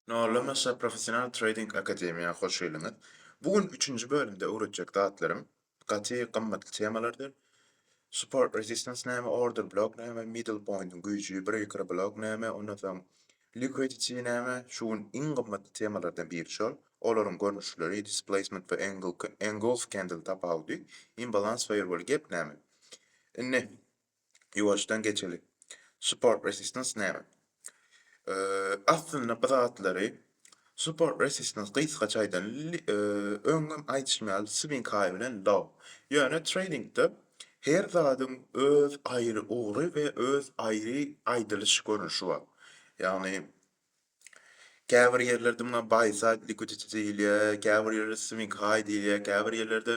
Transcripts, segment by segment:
Nollamaça professional trading akademiýa hoş geldiňiz. Bu gün üçünji bölümde öwretjek zatlarym gaty gymmatly temalardyr. Support resistance näme, order block näme, middle pointiň güýji, breaker block näme, ondan soň liquidity näme, şu gün iň gymmatly temalardan biri şol. Olaryň görnüşleri, displacement we engulf candle tapawudy, imbalans we gep näme. Indi Ýuwaşdan geçeli. Support resistance näme? Aslynda bu zatlary support resistance gysgaça aýdan öňňem aýdyşym ýaly swing high bilen low. Ýöne tradingde her zadyň öz aýry ugry we öz aýry aýdylyş görnüşi bar. Ýagny Käbir ýerlerde muňa Baýsaýd likuditi diýilýär, käbir ýerde Swinghaý diýilýär, käbir ýerlerde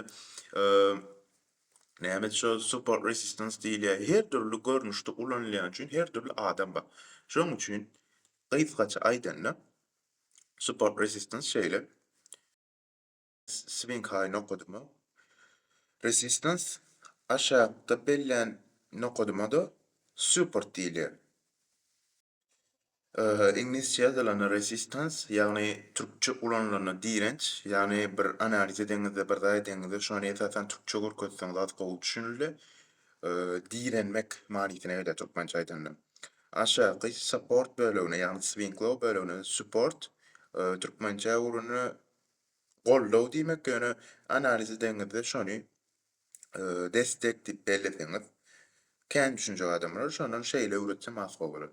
nämedşo support resistance diýilýär. Her dürli görnüşde ulanylýan üçin her dürli adam bar. Şonuň üçin gysgaça aýdanda support resistance şeýle. Swiňkaý nokadyma, resistans, aşakda bellän nokadyma-da support diýilýär. Iňlisçe ýazylanda resistans, ýagny türkçe ulanylanda direnç, ýagny bir analiz edeňizde, bir zat edeňizde şony esasan türkçe görkezseňiz az gowy düşünildi. Direnmek manysyna gelýär türkmençe aýdanda. Aşaky support bölegine, ýagny swiňklaw bölegine support, türkmençe ugrunda Goldaw diýmek ýöne analiz edeňizde şony destek diýip belleseňiz kän düşünjek adamlar şondan şeýle öwretsem has gowy bolar.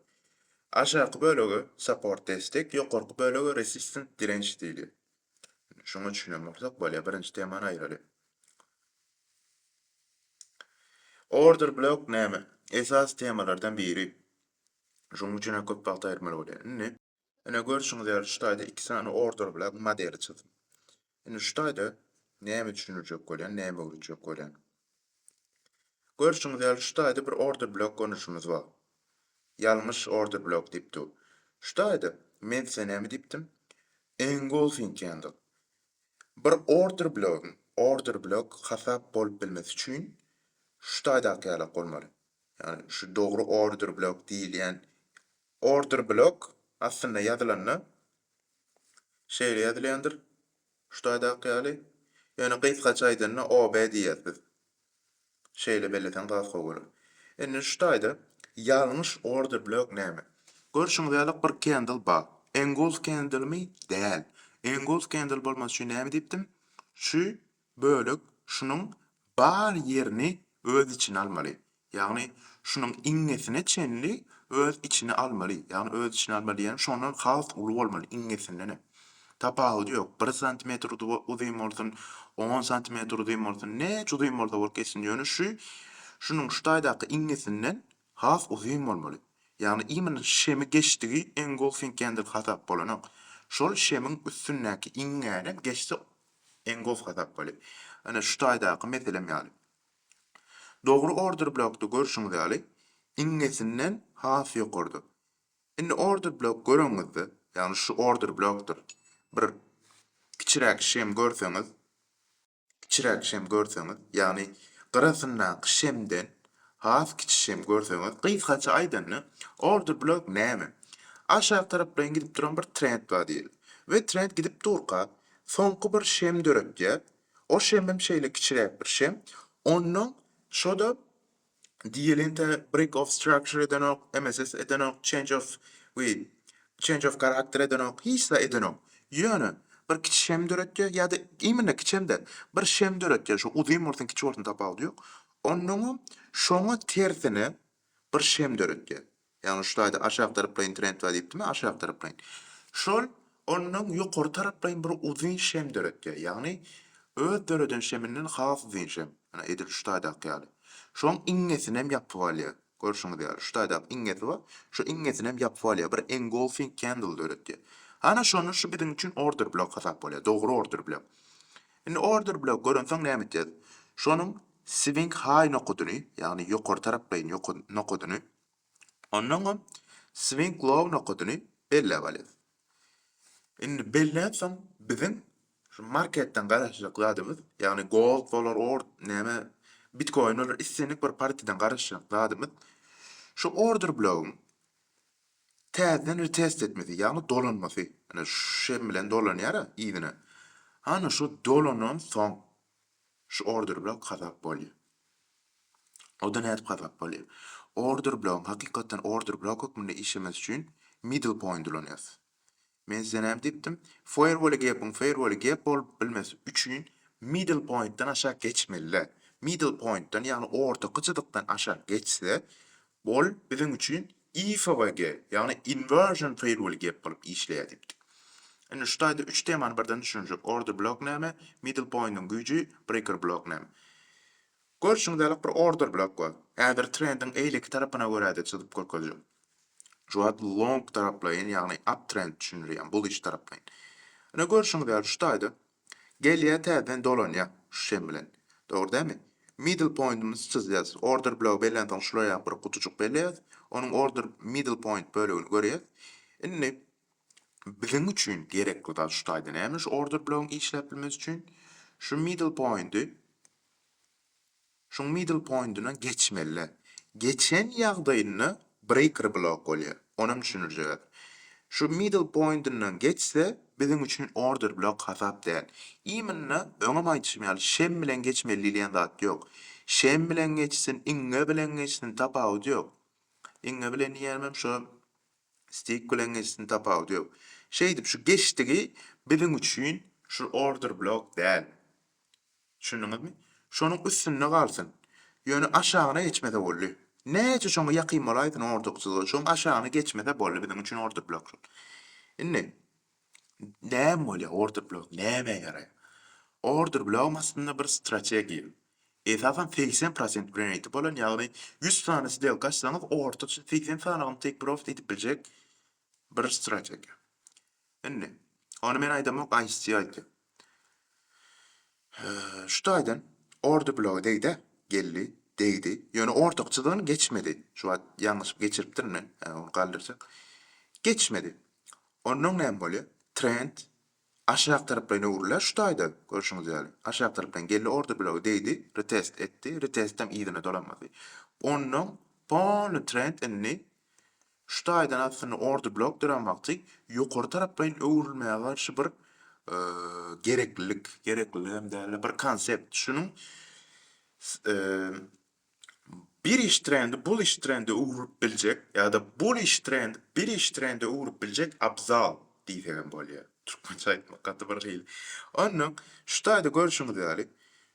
Aşaky bölege support destek ýokarky bölege resistance direnç diýilýär. Şuňa düşünen bolsak bolýar birinji temany aýyraly. Order blok näme? Esasy temalardan biri. Şonuň üçin hem köp wagt aýyrmaly bolýar. Indi. Ine görşüňiz ýaly şu taýda iki sany order bilen modeli çyzdym. Indi şu taýda näme düşündirjek bolýan, näme öwredjek bolýan. Görşüňiz ýaly şu taýda bir order blok görnüşimiz bar. Ýalňyş order blok diýip dur. Şu taýda men size näme diýipdim? Engulfing diýendik. Bir order blogyň order blok hasap bolup bilmesi üçin şu taýdaky ýalak bolmaly. Ýagny şu dogry order blok diýilýän Order block aslynda ýazylanda şeýle ýazylýandyr, şu taýdaky ýaly. Ýöne gysgaça aýdanda OB diýýäs biz. Şeýle belleseň has gowy bolar. Indi şu taýda ýalňyş order block näme? Görşüňiz ýalyk bir candle bar. Engulf candlemi? Däl. Engulf candle bolmasy üçin näme diýipdim? Şu bölek şunuň bar ýerini öz içine almaly. Ýagny şunuň iňňesine çenli öz içine almaly. Ýagny öz içine almaly diýýän şondan has uly bolmaly iňňesindenem. Tapawudy ýok bir santimetr uzyn bolsun, on santimetr uzyn bolsun näçe uzyn bolsa bolup geçsin ýöne şu şunuň şu taýdaky iňňesinden has uzyn bolmaly. Ýagny imенно şemi geçdigi engulfing ýendir hasap bolanok. Şol şemiň üstündäki iňňäni geçse Iň gowy hasapgaly. Ine şu taýdaky meselem ýaly. Dogry order blokda görşüňiz ýaly iňňesinden has ýokarda. Indi order blok göreňizde, ýagny şu order blokdyr. Bir kiçiräk şem görseňiz, kiçiräk şem görseňiz, ýagny gyrasyndaky şemden has kiçi şem görseňiz, gysgaça aýdanda, order blok näme? Aşak taraplaýyn gidip duran bir trend bar diýeli. We trend gidip durka, Soňky bir şem döretýär. O şemem şeýle kiçiräk bir şem. Onnoň şo-da diýilende break of structure edenok, MSS edenok, change of we change of character edenok, hiç zat edenok. Ýöne bir kiçi şem döretýär ýa-da imенно kiçem däl, bir şem döretýär, şo uzyn bolsun, kiçi bolsun tapawudy ýok. Onnoňam şoňa tersine bir şem döretýär. Ýagny şu taýda aşak taraplaýyn trend bar diýipdimi, aşak taraplaýyn. Şol ondan ýokary taraplaýyn bir uzyn şem döretýär. Ýagny öz döreden şeminden has uzyn şem. Ýa-da edil şu taýdaky ýaly. Şoň iňňesinem ýapyp alýar. Görşüňiz ýaly, şu taýdaky iňňesi bar, şu iňňesinem ýapyp alýar. Bir engulfing candle döretýär. Hana şonda şu biziň üçin order blok hasap bolýar. Dogry order blok. Indi order blok görensoň näme etýäs? Şonuň swing high nokadyny, ýagny ýokary taraplaýyn nokadyny Ondan soň swing low nokadyny belläp alýas. Indi belläp soň biziň şu marketden garaşjak zadymyz, ýagny gold bolar, ord, näme, bitkoin bolar, islendik bir partiýadan garaşjak zadymyz şu order blogyň täzeden retest etmesi, ýagny dolanmasy. Ine, şem bilen dolanýar-a yzyna. Hany şu dolanansoň, Şu order bilen kazap bolýa. O-da nädip kazap bolýa? Order blogyň, hakykatdan order blok hökmünde işlemesi üçin middle point ulanýas. Men size näme diýipdim? Firewall-e gepiň firewall-e gep bolup bilmesi üçin middle point-dan aşak geçmeli-dä. Middle point-dan, ýagny ortaky jyzykdan aşak geçse, ol biziň üçin IFWG, ýagny Inversion Firewall gep bolup işleýär diýipdi. Indi şu taýda üç temany birden düşünjek, Order Block näme, Middle Pointiň güýji, Breaker Block näme. Görşüňiz ýalyk bir Order Block bar. Häzir trendiň eýleki tarapyna görä-de çyzyp görkezjek. Şu wagt Long taraplaýyn, ýagny Uptrend düşündirýän, Bullish taraplaýyn. Ine görşüňiz ýaly şu taýda Gelýär täzeden dolanýar şu şem bilen. Dogry dämi? Middle pointimizi çyzýas. Order blogy bellensoň şulaýa bir gutujyk belleýäs. Onuň order middle point bölegini görýäs. Indi biziň üçin gerekli zat şu taýda näme şu order blogyň işläp bilmesi üçin? Şu middle pointi Şuň middle pointyna geçmelide geçen ýagdaýynda breaker blok bolýar. Onam düşündirjegäs. Şu middle pointyndan geçse biziň üçin order blok hasap däl. Imенно öňem aýdyşym ýaly şem bilen geçmeli diýilýän zat ýok. Şem bilen geçsin, iňňe bilen geçsin tapawudy ýok. Iňňe bilen diýýänim şo stick bilen geçsin tapawudy ýok. Şeýdip şu geçdigi biziň üçin şu order blok däl. Düşündiňizmi? Şonuň üstünde galsyn. Ýöne aşagyna geçmese boldy. Näçe şoňa ýakyn bolaýsyn orduksuzga, şoň aşagyna geçmese boldy biziň üçin ordublok şol. Indi näme bolýar ordublok nämä ýaraýar? Ordublogam aslynda bir strategiýa. Esasan segsen prosent bilen eýti bolan ýagny ýüz sany sdelka açsaňyz ortaça segsen sany ýygym take profit edip biljek Bir strategiýa. Indi, ony men aýdamok, Ice-T aýdýar. Şu taýdan ordy bloga degdi-ä, geldi, degdi, ýöne ortakçydan geçmedi. Şu wagt ýalňyşyp geçiripdirin men, ony galdyrjak. Geçmedi. Onnoň näme bolýar? Trend Aşak taraplaýyn öwrüler şu taýda, görşüňiz ýaly. Aşak taraplaýyn geldi orta blogy degdi, retest etdi, retestdem yzyna dolanmady. Ondan polny trend indi şu taýdan aslynda orta blok duran wagty ýokary taraplaýyn öwrülmäge garşy bir gereklilik, gerekliligem dälde bir konsept şunuň bir iş trendi bul iş trende öwrülip biljek ýa-da bul iş trendi bir iş trende öwrülip biljek abzal diýsek hem bolýar. Türkmençe aýtmak gaty bir hili. Ondan, şu taýda görşüňiz ýaly,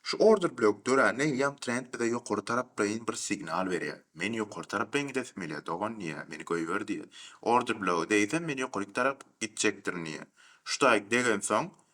şu order blok döränden ýam trend bize ýokary taraplaýyn bir signal berýär. Men ýokary taraplaýyn gidesim gelýär, dogan diýýär, meni goýber diýýär. Order bloga degsem, men ýokaryk tarap gitjekdirin diýýär. Şu taýy degensoň,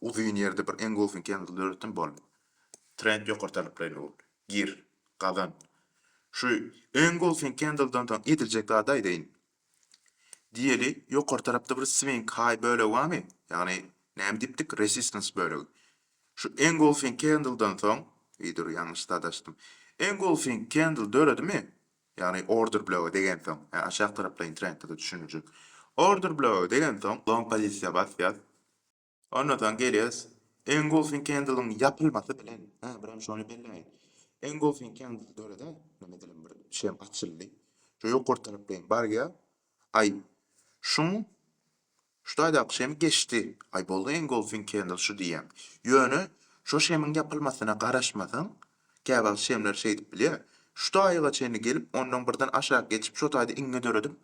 Uzyn ýerde bir engulfing kanaly döretdim bol. Trend ýokary talaplaýyn ogul. Gir. Gazan. Şu engulfing kandyldan soň ediljek zady aýdaýyn. Diýeli ýokary tarapda bir swing high bölegi barmy? Ýagny näme diýipdik resistance bölegi. Şu engulfing kandyldan soň, eý dur ýalňyş zat açdym. Engulfing kandl döredimi? Ýagny order blöge degensoň, aşak taraplaýyn trendde-de düşüniljek. Order blöge degensoň long pozisiýa bas ýaz. Ondan soň gelýäs Engulfing Candle-yň ýapylmasy bilen, hä bir hem şony belläýin. Engulfing Candle döreden, näme diýelim bir şem açyldy. Şu ýokary tarapleýin barýa, aý şuň şu taýdaky şem geçdi, aý boldy Engulfing Candle şu diýýäň. Ýöne şo şemiň ýapylmasyna garaşmasaň, Käwagt şemler şeýdip bilýär. Şu taýyga çenli gelip, ondan birden aşak geçip, şo taýda iňňe döredip,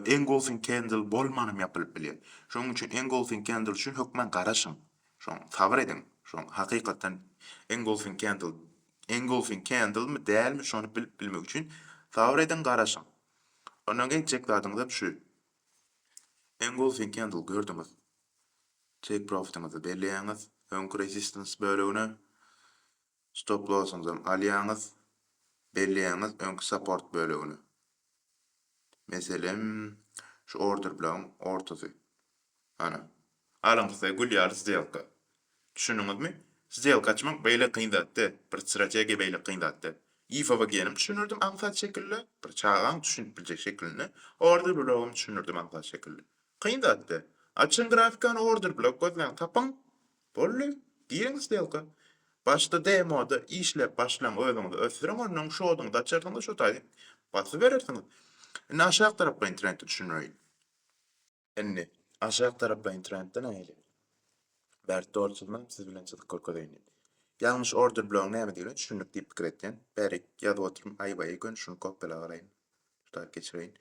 Engolfing Kendl bolmanam ýapylyp bilýär. Şonuň üçin Engolfing Kendl üçin hökman garaşyň. Şoň, sabyr ediň. Şoň, hakykatdan Engolfing Kendl, Engolfing Kendlmi, dälmi, şony bilip bilmek üçin sabyr ediň, garaşyň. Ondan etjek zadyňyzam şu. Engolfing Kendl gördüňiz. Take profit-iňizi belleýäňiz. Öňki resistance bölegine. Stop lossyňyzam alýaňyz, belleýäňiz öňki support bölegine. Meselem, şu order blogyň ortasy. Ana. Alyň size gül ýaly sdelka. Düşündiňizmi? Sdelka açmak beýle kyn zat däl, bir strategiýa beýle kyn zat däl. IFVG-nem düşündirdim aňsat şekilde, bir çagaň düşünip biljek şekilinde, order blogam düşündirdim aňsat şekilde. Kyn zat däl. Açyň grafikany order blok gözläň, tapyň. Boldy. Giriň stelka. Başda demoda işläp başlaň özüňizi ösdüriň onnoň şodyňyzy açarsyňyz şo taýy basyberersiňiz. Indi aşak taraplaýyn trendi düşündireýin. Indi aşak taraplaýyn trendde nähili? Bert dogry çyzman siz bilen çyzyp görkezeýin. Ýalňyş order blogyň nämedigine düşündik diýip pikir etýän. Bärik ýazyp otyryn aýbaýy göni şuny kopýala galaýyn. Şu taýy geçireýin.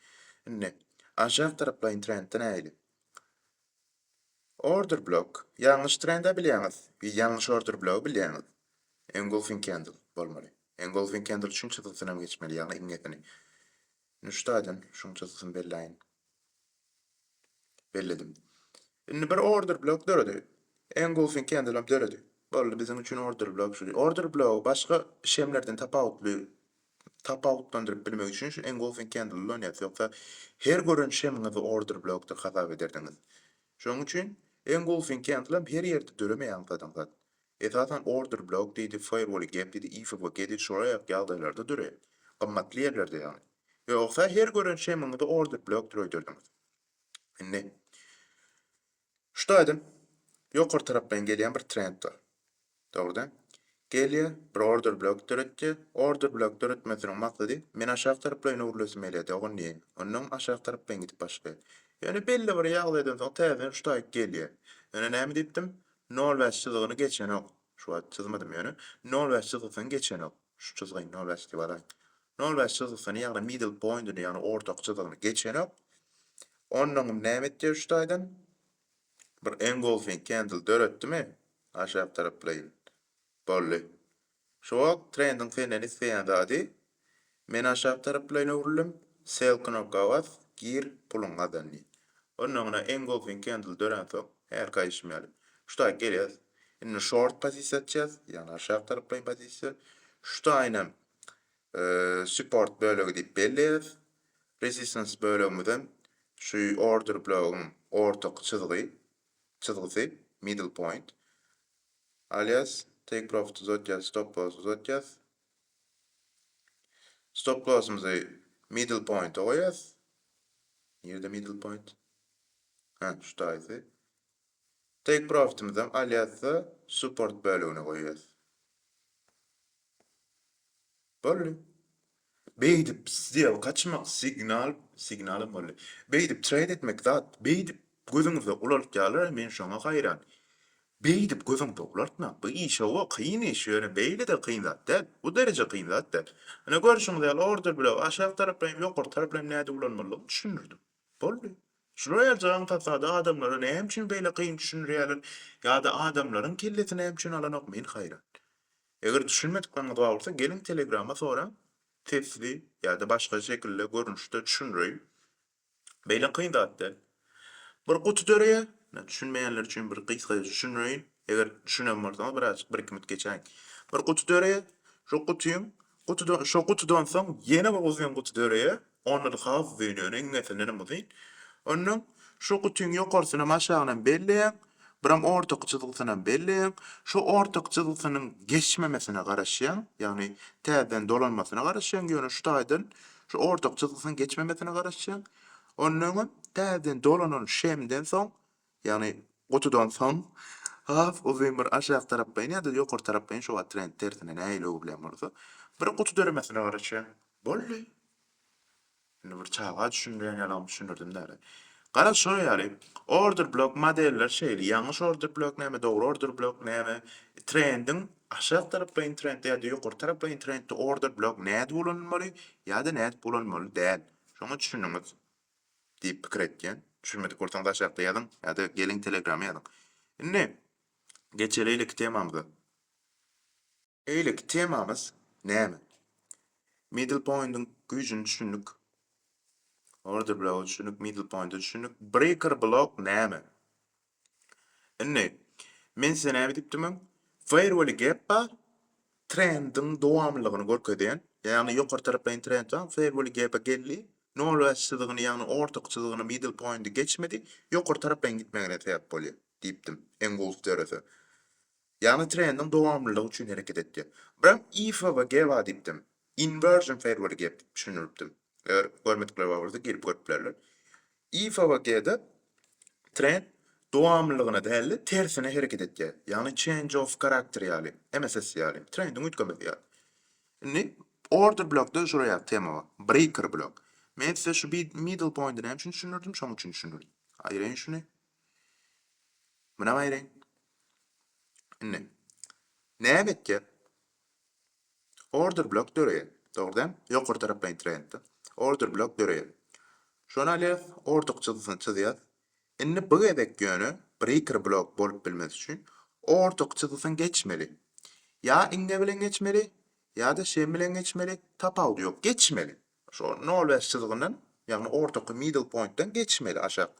Indi aşak taraplaýyn trendde nähili? Order block, ýalňyş trende bilýäňiz, we ýalňyş order blogy bilýäňiz. Engulfing candle, bolmaly. Engulfing candle üçin çyzgysynam geçmeli, ýagny iňňesini. Nuştaýdan şuň çyzgysyny belläýin. Belledim. Indi bir order block döredi. Engulfing candle hem döredi. Boldy, biziň üçin order block şu. Order blogy başga işemlerden tapawutly tapawutlandyryp bilmek üçin şu engulfing candle ulanyas ýoksa her gören şemiňizi order block dip hasap ederdiňiz şoň üçin engulfing candle hem her ýerde döremeýän zadyň zat esasan order block diýdi firewall gap diýdi ifw gedi şolaýak ýagdaýlarda döreýär gymmatly ýerlerde ýagny ýogsa her gören şemiňizi order block dip öýderdiňiz indi Şu taýdan ýokary taraplaýyn gelýän bir trend bar. Dogrudan gelýär, bir order blok döretýär. Order blok döretmesiniň maksady men aşak taraplaýyn öwrülesim gelýär dogan diýýär. Onnoň aşak taraplaýyn gidip başlaýar. Ýöne belli bir ýagdaýdan soň täzeden şu taýy gelýär. Ýöne näme diýipdim? Nol bäş çyzygyny geçenok. Şu wagt çyzmadym ýöne. Nol bäş çyzgysyny geçenok. Şu çyzgyny nol bäş diýip alaýyn. Nol bäş çyzgysyny ýagny middle pointyny ýagny ortak çyzygyny geçenok. Onnoňam näme etýär şu taýdan? Bir engolfing candle döretdimi? Aşak taraplaýyn. Boldy. Şu wagt trendiň senden isleýän zady Men aşak taraplaýyn öwrüldim, Sell knopka bas, gir, puluň gazan diýip. Onnoňra engulfing candle döränsoň, hälki aýdyşym ýaly, şutaýy gelýäs. Indi short pozisiýa atýas, ýagny aşak taraplaýyn pozisiýa. Şutaýynam support bölegi diýip belleýäs. Resistance bölegimizem şu order blogyň ortaky çyzgy, çyzgysy, middle point. Alýas, take profit uzatýas, stop loss uzatýas. Stop lossymyzy middle pointa goýas. Nirde middle point? Ha, şu taýsy. Take profitimizi alýas-da, support bölegine goýas. Boldy. Beýdip sdelka açmak signal, signalam boldy. Beýdip trade etmek zat, beýdip Gözüňizde ulaltýalar-a men şoňa haýran. Beýdip gözüňde ulaltmaň. Bu iş-owo kyn iş, ýöne beýle-de kyn zat däl. Bu dereje kyn zat däl. Ine görşüňiz ýaly order bilen aşak taraplaryny ýokary tarap bilen nädip ulanmalydygyny düşündirdim. Boldy. Şular ýaly jaňkasada adamlara näme üçin beýle kyn düşündirýäler ýa-da adamlaryň kellesi näme üçin alanok men haýran. Eger düşünmedikleriňiz bar bolsa geliň telegrama soraň sesli ýa-da başga şekilde görnüşde düşündireýin. Beýle kyn zat däl. Bir guty döreýär. Ine, düşünmeýänler üçin bir gysgaça düşündireýin. Eger düşünen bolsaňyz birazajyk bir-iki minut geçäýiň. Bir guty döreýär. Şo gutyň gutydan şo gutydan soň ýene bir uzyn guty döreýär. Onda-da has uzyn ýöne iňňesinden hem uzyn. Ondan şo gutyň ýokarysyny hem aşagyny hem belleýäň. Buram ortaky çyzgysyna belleýäň. Şu ortaky çyzgysynyň geçmemesine garaşýaň, ýagny täzeden dolanmasyna garaşýaň, ýöne şu taýdan şu ortaky çyzgysynyň geçmemesine garaşýaň. Ondan öňem täzeden dolanan şemden soň, ýagny gutudan soň has uzyn bir aşak taraplaýyn ýa-da ýokary taraplaýyn şu wagt trend tersine nähili öwrülýän bolsa, bir guty döremesine garaşýaň. Boldy. Indi bir çaga düşündirýän ýaly oňa düşündirdim däli. Garaz şonuň ýaly, order blok modeller şeýle, ýalňyş order blok näme, dogry order blok näme, trendiň aşak taraplaýyn trendde ýa-da ýokary taraplaýyn trendde order blok nädip ulanylmaly ýa-da nädip ulanmaly däl. Şoňa düşüniňiz diýip pikir etýän. Düşünmedik bolsaňyz aşakda ýazyň ýa-da geliň telegrama ýazyň. Indi geçelilik temamyza. Beýleki temamyz näme? Middle pointiň güýjüni düşündik. Order bloga düşündik, middle pointa düşündik. Breaker blok näme? Indi men size näme diýipdimin? Fairwell gap bar. Trendiň dowamlylygyny görkezýän, ýagny ýokary taraplaýyn trend bar, fairwell gap geldi. Nol bäş çyzygyny, ýagny ortak çyzygyny, middle pointy geçmedi. Ýokary taraplaýyn gitmegine sebäp bolýar. diýipdim, iň gowusy dörese. Ýagny trendiň dowamlylygy üçin hereket etýär. Biram IFWG bar diýipdim. Inversion Fairway gap diýip düşündiripdim. Eger görmedikler bar bolsa girip görüp bilerler. IFWG-de trend dowamlylygyna däl-de tersine hereket etýär. Ýagny change of character ýaly, MSS ýaly, trendiň üýtgemesi ýaly. Indi order blokda şular ýaly tema bar. Breaker blok. Men size şu middle pointy näme üçin düşündirdim? Şonuň üçin düşündirdim. Aýyraýyn şuny. Munam aýry. Indi näme etjek? Order blok döreýär. Dogry däl? Ýokary taraplaýyn trendde. Order blok döreýär. Şony alýas, order çyzgysyny çyzýas. Indi bu gezek ýöne breaker blok bolup bilmesi üçin order çyzgysyny geçmeli. Ýa iňňe bilen geçmeli, ýa-da şem bilen geçmeli, tapawudy ýok, geçmeli. Şol nol bäş çyzygyndan, ýagny ortaky middle pointden geçmeli aşak.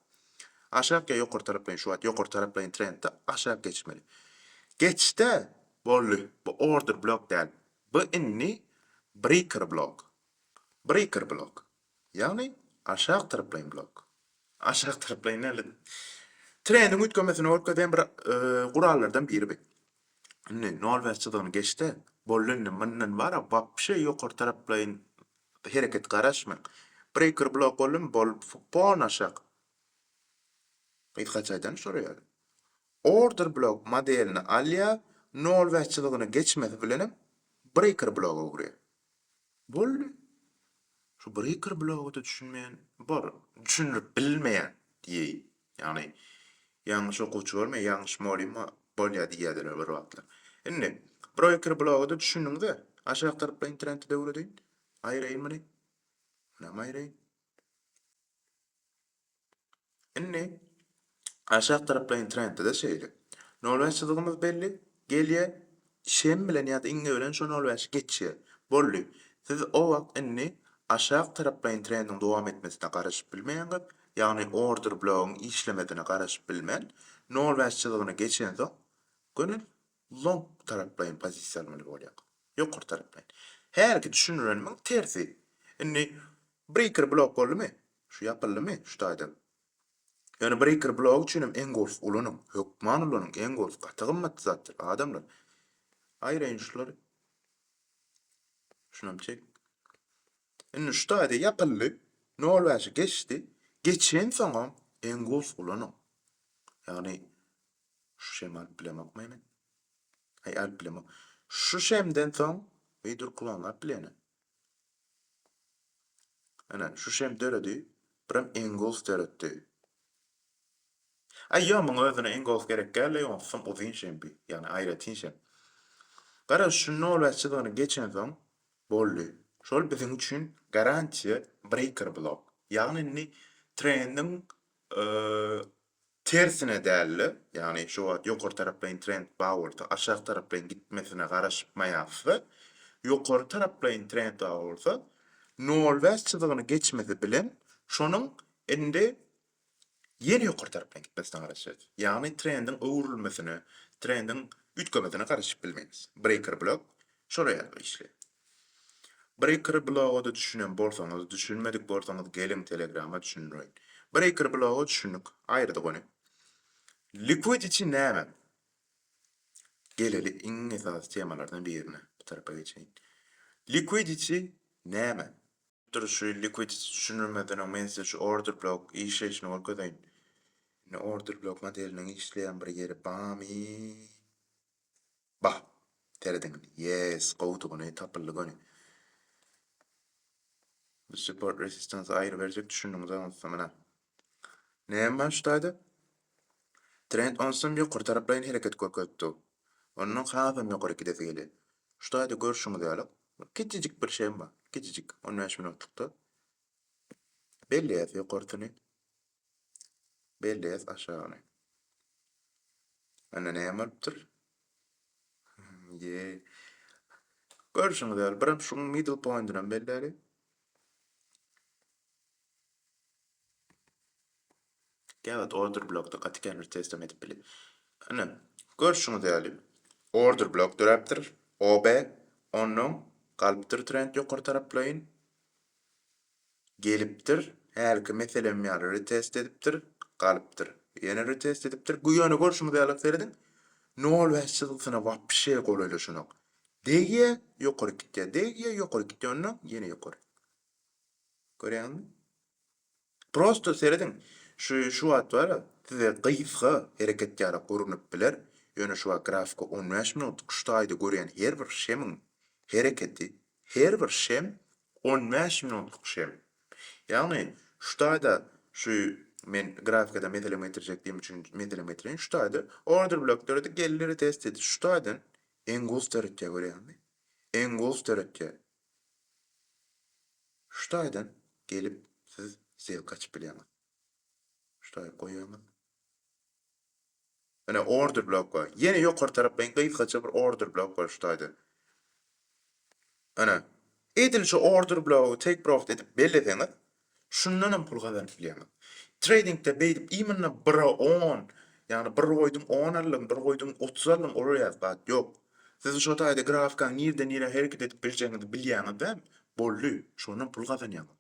Aşak ýa ýokary taraplaýyn şu wagt ýokary taraplaýyn trendde aşak geçmeli. Geçdä, boldy. Bu order blok däl. Bu indi breaker blok. Breaker blok. Ýagny aşak taraplaýyn blok. Aşak taraplaýyn nälet? Trendiň üýtgemesini görkezýän bir gurallardan biri bi. Indi nol bäş çyzygyny geçde, boldy indi mundan bara wapşe ýokary taraplaýyn hereket garaşmaň. Breýker blok boldumy boldy fupon aşak. Gyz haç aýdany şora ýaly. Order blok modelini alýar, nol bäş çyzygyny geçmesi bilenem breýker bloga öwürýär. Boldy. Şu breaker bloga-da düşünmeýän bar. Düşündirip bilmeýän diýeýin. Ýagny ýalňyş okuwçy bolmaýar, ýalňyş mugallym bolýar diýýärdiler bir wagtlar. Indi, breaker bloga-da düşündiňiz-ä. Aşak tarapda internetde öwredeýin. Aýraýyn muny. Muny hem aýraýyn. Indi aşak taraplaýyn trendde-de şeýle. Nol bäş çyzygymyz belli, gelýär, şem bilen ýa-da iňňe bilen şo nol bäşi geçýär. Boldy. Siz o wagt indi aşak taraplaýyn trendiň dowam etmesine garaşyp bilmeýäňiz, ýagny order blogyň işlemesine garaşyp bilmän, nol bäş çyzygyny geçensoň, göni long taraplaýyn pozisiýa almaly bolýar. Ýokary taraplaýyn. Hälki düşünirenimiň tersi. Indi breaker blok boldumy? Şu ýapyldymy şu taýdan? Ýöne breaker blok üçin hem engulf ulanyň. Hökman ulanyň. Engulf gaty gymmat zatdyr adamlar. Aýraýyn şular. Şunam çek. Indi şu taýda ýapyldy. 0.5-i geçdi. Geçensoňam engulf ulanyň. Ýagny Şu şemi alyp bilemokmy ene? Aý alyp bilemok. Şu şemden soň eý dur klonlap bile ene. Ene şu şem döredi. Birem Engulf döretdi. Aý ýo muňa özüne Engulf gerek däl-de ýogsam uzyn şem bi. Ýagny aýratyn şem. Garaz şu nolbäş çyzygyny geçensoň boldy. Şol biziň üçin garantiýa breaker blok. Ýagny indi trendiň Tersine däl-de, ýagny şu wagt ýokary taraplaýyn trend bar bolsa, aşak taraplaýyn gitmesine garaşmaýarys-da, ýokary taraplaýyn trend bar bolsa, nol bäş çyzygyny geçmesi bilen şonuň indi ýene ýokary taraplaýyn gitmesine garaşýarys. Ýagny trendiň öwrülmesine, trendiň üýtgemesine garaşyp bilmeýäris. Breýker blok şolar ýaly bir işleýär. Bir ekr bloga-da düşünen bolsaňyz, düşünmedik bolsaňyz geliň telegrama düşündireýin. Bir ekr bloga düşündik. Aýyrdyk ony. Liquidity näme? Geleli iň esasy temalardan birine. Bir tarapa geçeýin. Liquidity näme? Dur şu liquidity düşündirmezden öň men size şu order blok işleýşini görkezeýin. Indi order blok modeliniň işleýän bir ýeri barmy? Bah! Serediň, ýes, gowudygyny tapyldy göni. Bu support resistance aýry berjek düşündiňiz onsa muna. Näme bar şu taýda? Trend onsam ýokary taraplaýyn hereket görkezipdi. Ondan hasam ýokary gidesi gelýär. Şu taýda görşüňiz ýaly, kiçijik bir şem bar, kiçijik, on bäş minutlykda. Belleýär ýokarysyny. Belli et aşagyny. Anda näme bolupdyr? Ye. Görüşüňiz ýaly, birem şuň middle pointini belläli. Gäwet order blokda gaty känbir testem edip bile. Ine, görüşüňiz ýaly, order blok döräpdir. OB, ondan galypdyr trend ýokary taraplaýyn. Gelipdir, hälki meselem ýaly retest edipdir, galypdyr. Ýene retest edipdir. Bu ýöne görşüňiz ýaly, serediň, nol bäş çyzgysyna wapşe golaýlaşanok. Degýä, ýokaryk gitýär, degýä, ýokaryk gitýär, onnoň ýene ýokaryk. Görýäňizmi? Prosto serediň, şu şu wagt bar-a, size gysga hereket ýaly gurnup biler, ýöne şu wagt grafika on bäş minutlyk şu taýda görýän her bir şemiň hereketi, her bir şem On bäş minutlyk şem. Ýagny şu taýda şu men grafikadan meselem getirjek diýen üçin meselem getireýin. Şu taýda order blok döredi, geldi retest etdi. Şu taýdan engulf döretýär görýäňizmi? Engulf döretýär. Şu taýdan gelip siz zewk açyp bilýäňiz. Ştaý goýaýmaly. Ine order blok bar. Ýene ýokary tarapda iň gysgaça bir order blok bar şu taýda. Ine. Edil şu order blogy take profit edip belleseňiz, şundan hem pul gazanyp bilýäňiz. Tradingde beýdip iý munda 1-e 10, ýagny bir goýduň 10 aldym, bir goýduň 30 aldym ol ýaly zat ýok. Siz şo taýda grafikaň nirden nirä hereket edip biljegiňizi bilýäňiz däl, boldy, şondan pul gazanýaňyz.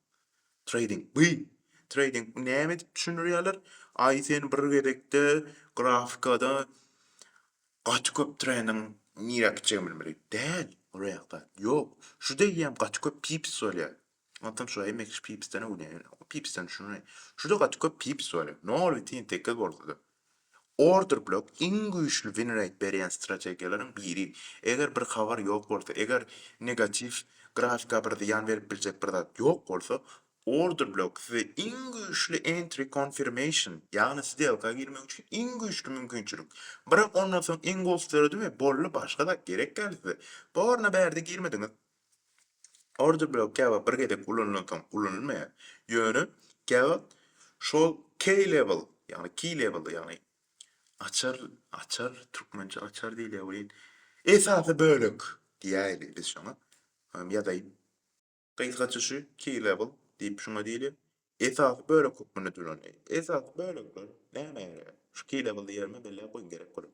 Trading by trading näme edip düşündirýärler aý sen bir gezekde grafikada gaty köp treniň nirä gitjegini bilmeli däl ol ýakda ýok şu degýem gaty köp pips bolýar onsoň şu mx pipsden öwrenýär pipsden düşünýär şuda gaty köp pips bolýar nol butyn sekiz bolsada Order block iň güýçli win rate berýän strategiýalaryň biri. Eger bir habar ýok bolsa, eger negatiw grafika bir zyýan berip biljek bir zat ýok bolsa, order block size iň güýçli entry confirmation, ýagny sdelka girmek üçin iň güýçli mümkinçilik. Brak ondan soň engulf döredi we boldy başga zat gerek däl size. Borna bärde girmediňiz. Order blok käwagt bir gezek ulanylan soň ulanylmaýar, ýöne käwagt şol key level, ýagny key level, ýagny açar, açar, türkmençe açar diýilýär welin, esasy bölek diýäýeli biz şoňa, ýazaýyn. Gysgaça şu key level diýip şuňa diýilýär. Esasy bölek hökmünde tölenýär. Esasy bölekler näme ýaraýar? Şu kile-bili ýerime belläp goýuň gerek bolar.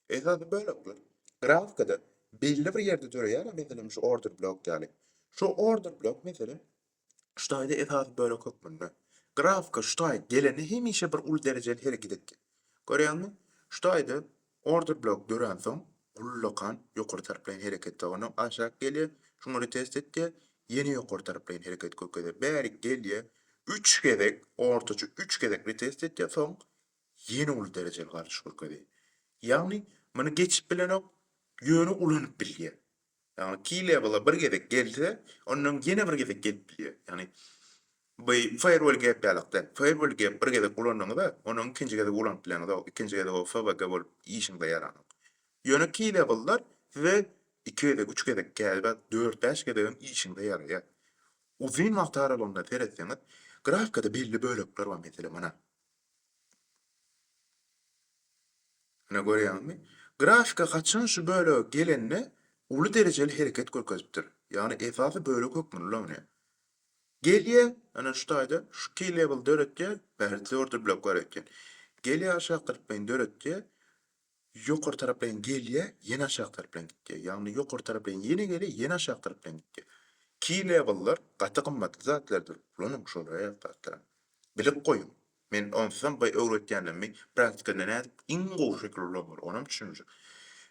Esasy bölekler grafikada belli bir ýerde döreýär, meselem şu order blok ýaly. Şu order blok meselem şu taýda esasy bölek hökmünde. Grafika şu taýy geleni hemişe bir uly derejeli hereket etdi. Görýäňmi? Şu taýda Order blok döränsoň, ullakan ýokary tarplaýyn hereket zona aşak gelýär. Şuňa retest etýär. Ýene ýokary tarplaýyn hereket kökezýär. Bärik gelýär. Üç gezek, ortaça üç gezek retest etýär, soň ýene uly derejeli galyş görkezýär. Ýagny, muny geçip bilenok, ýöne ulanyp bilýär. Ýagny key level-a bir gezek gelse, ondan ýene bir gezek gelip bilýär. Ýagny bu firewall gap ýalak däl. Firewall gap bir gezek ulandyňyz-a, ony ikinji gezek ulanyp bileňizok. Ikinji gezek o FWG bolup işiňize ýaranok. Ýöne key level-lar size iki gezek, üç gezek, käbir dört-bäş gezegem işiňize ýaraýar. Uzyn wagt aralygynda seretseňiz, grafika-da belli bölekler bar, meselem, ana, Muna görýäňmi? Grafika haçan şu bölege gelende uly derejeli hereket görkezipdir. Ýagny esasy bölek hökmünde ulanylýar. Gelýär, ana şu taýda şu key level döretýär, bäri twerdy blok bar eken. Gelýär aşak kyrpmaýyny döretýär. ýokary tarapleýin gelýär, ýene aşak tarapleýin gitýär, ýagny ýokary tarapleýin ýene gelýär, ýene aşak tarapleýin gitýär. Key level-lar gaty gymmatly zatlardyr, ulanyň şol aýak zatlaram. Bilip goýuň. Men onsuzam bu öwretýänimi praktikada nädip iň gowy şekil ulanmaly, onam düşünjek.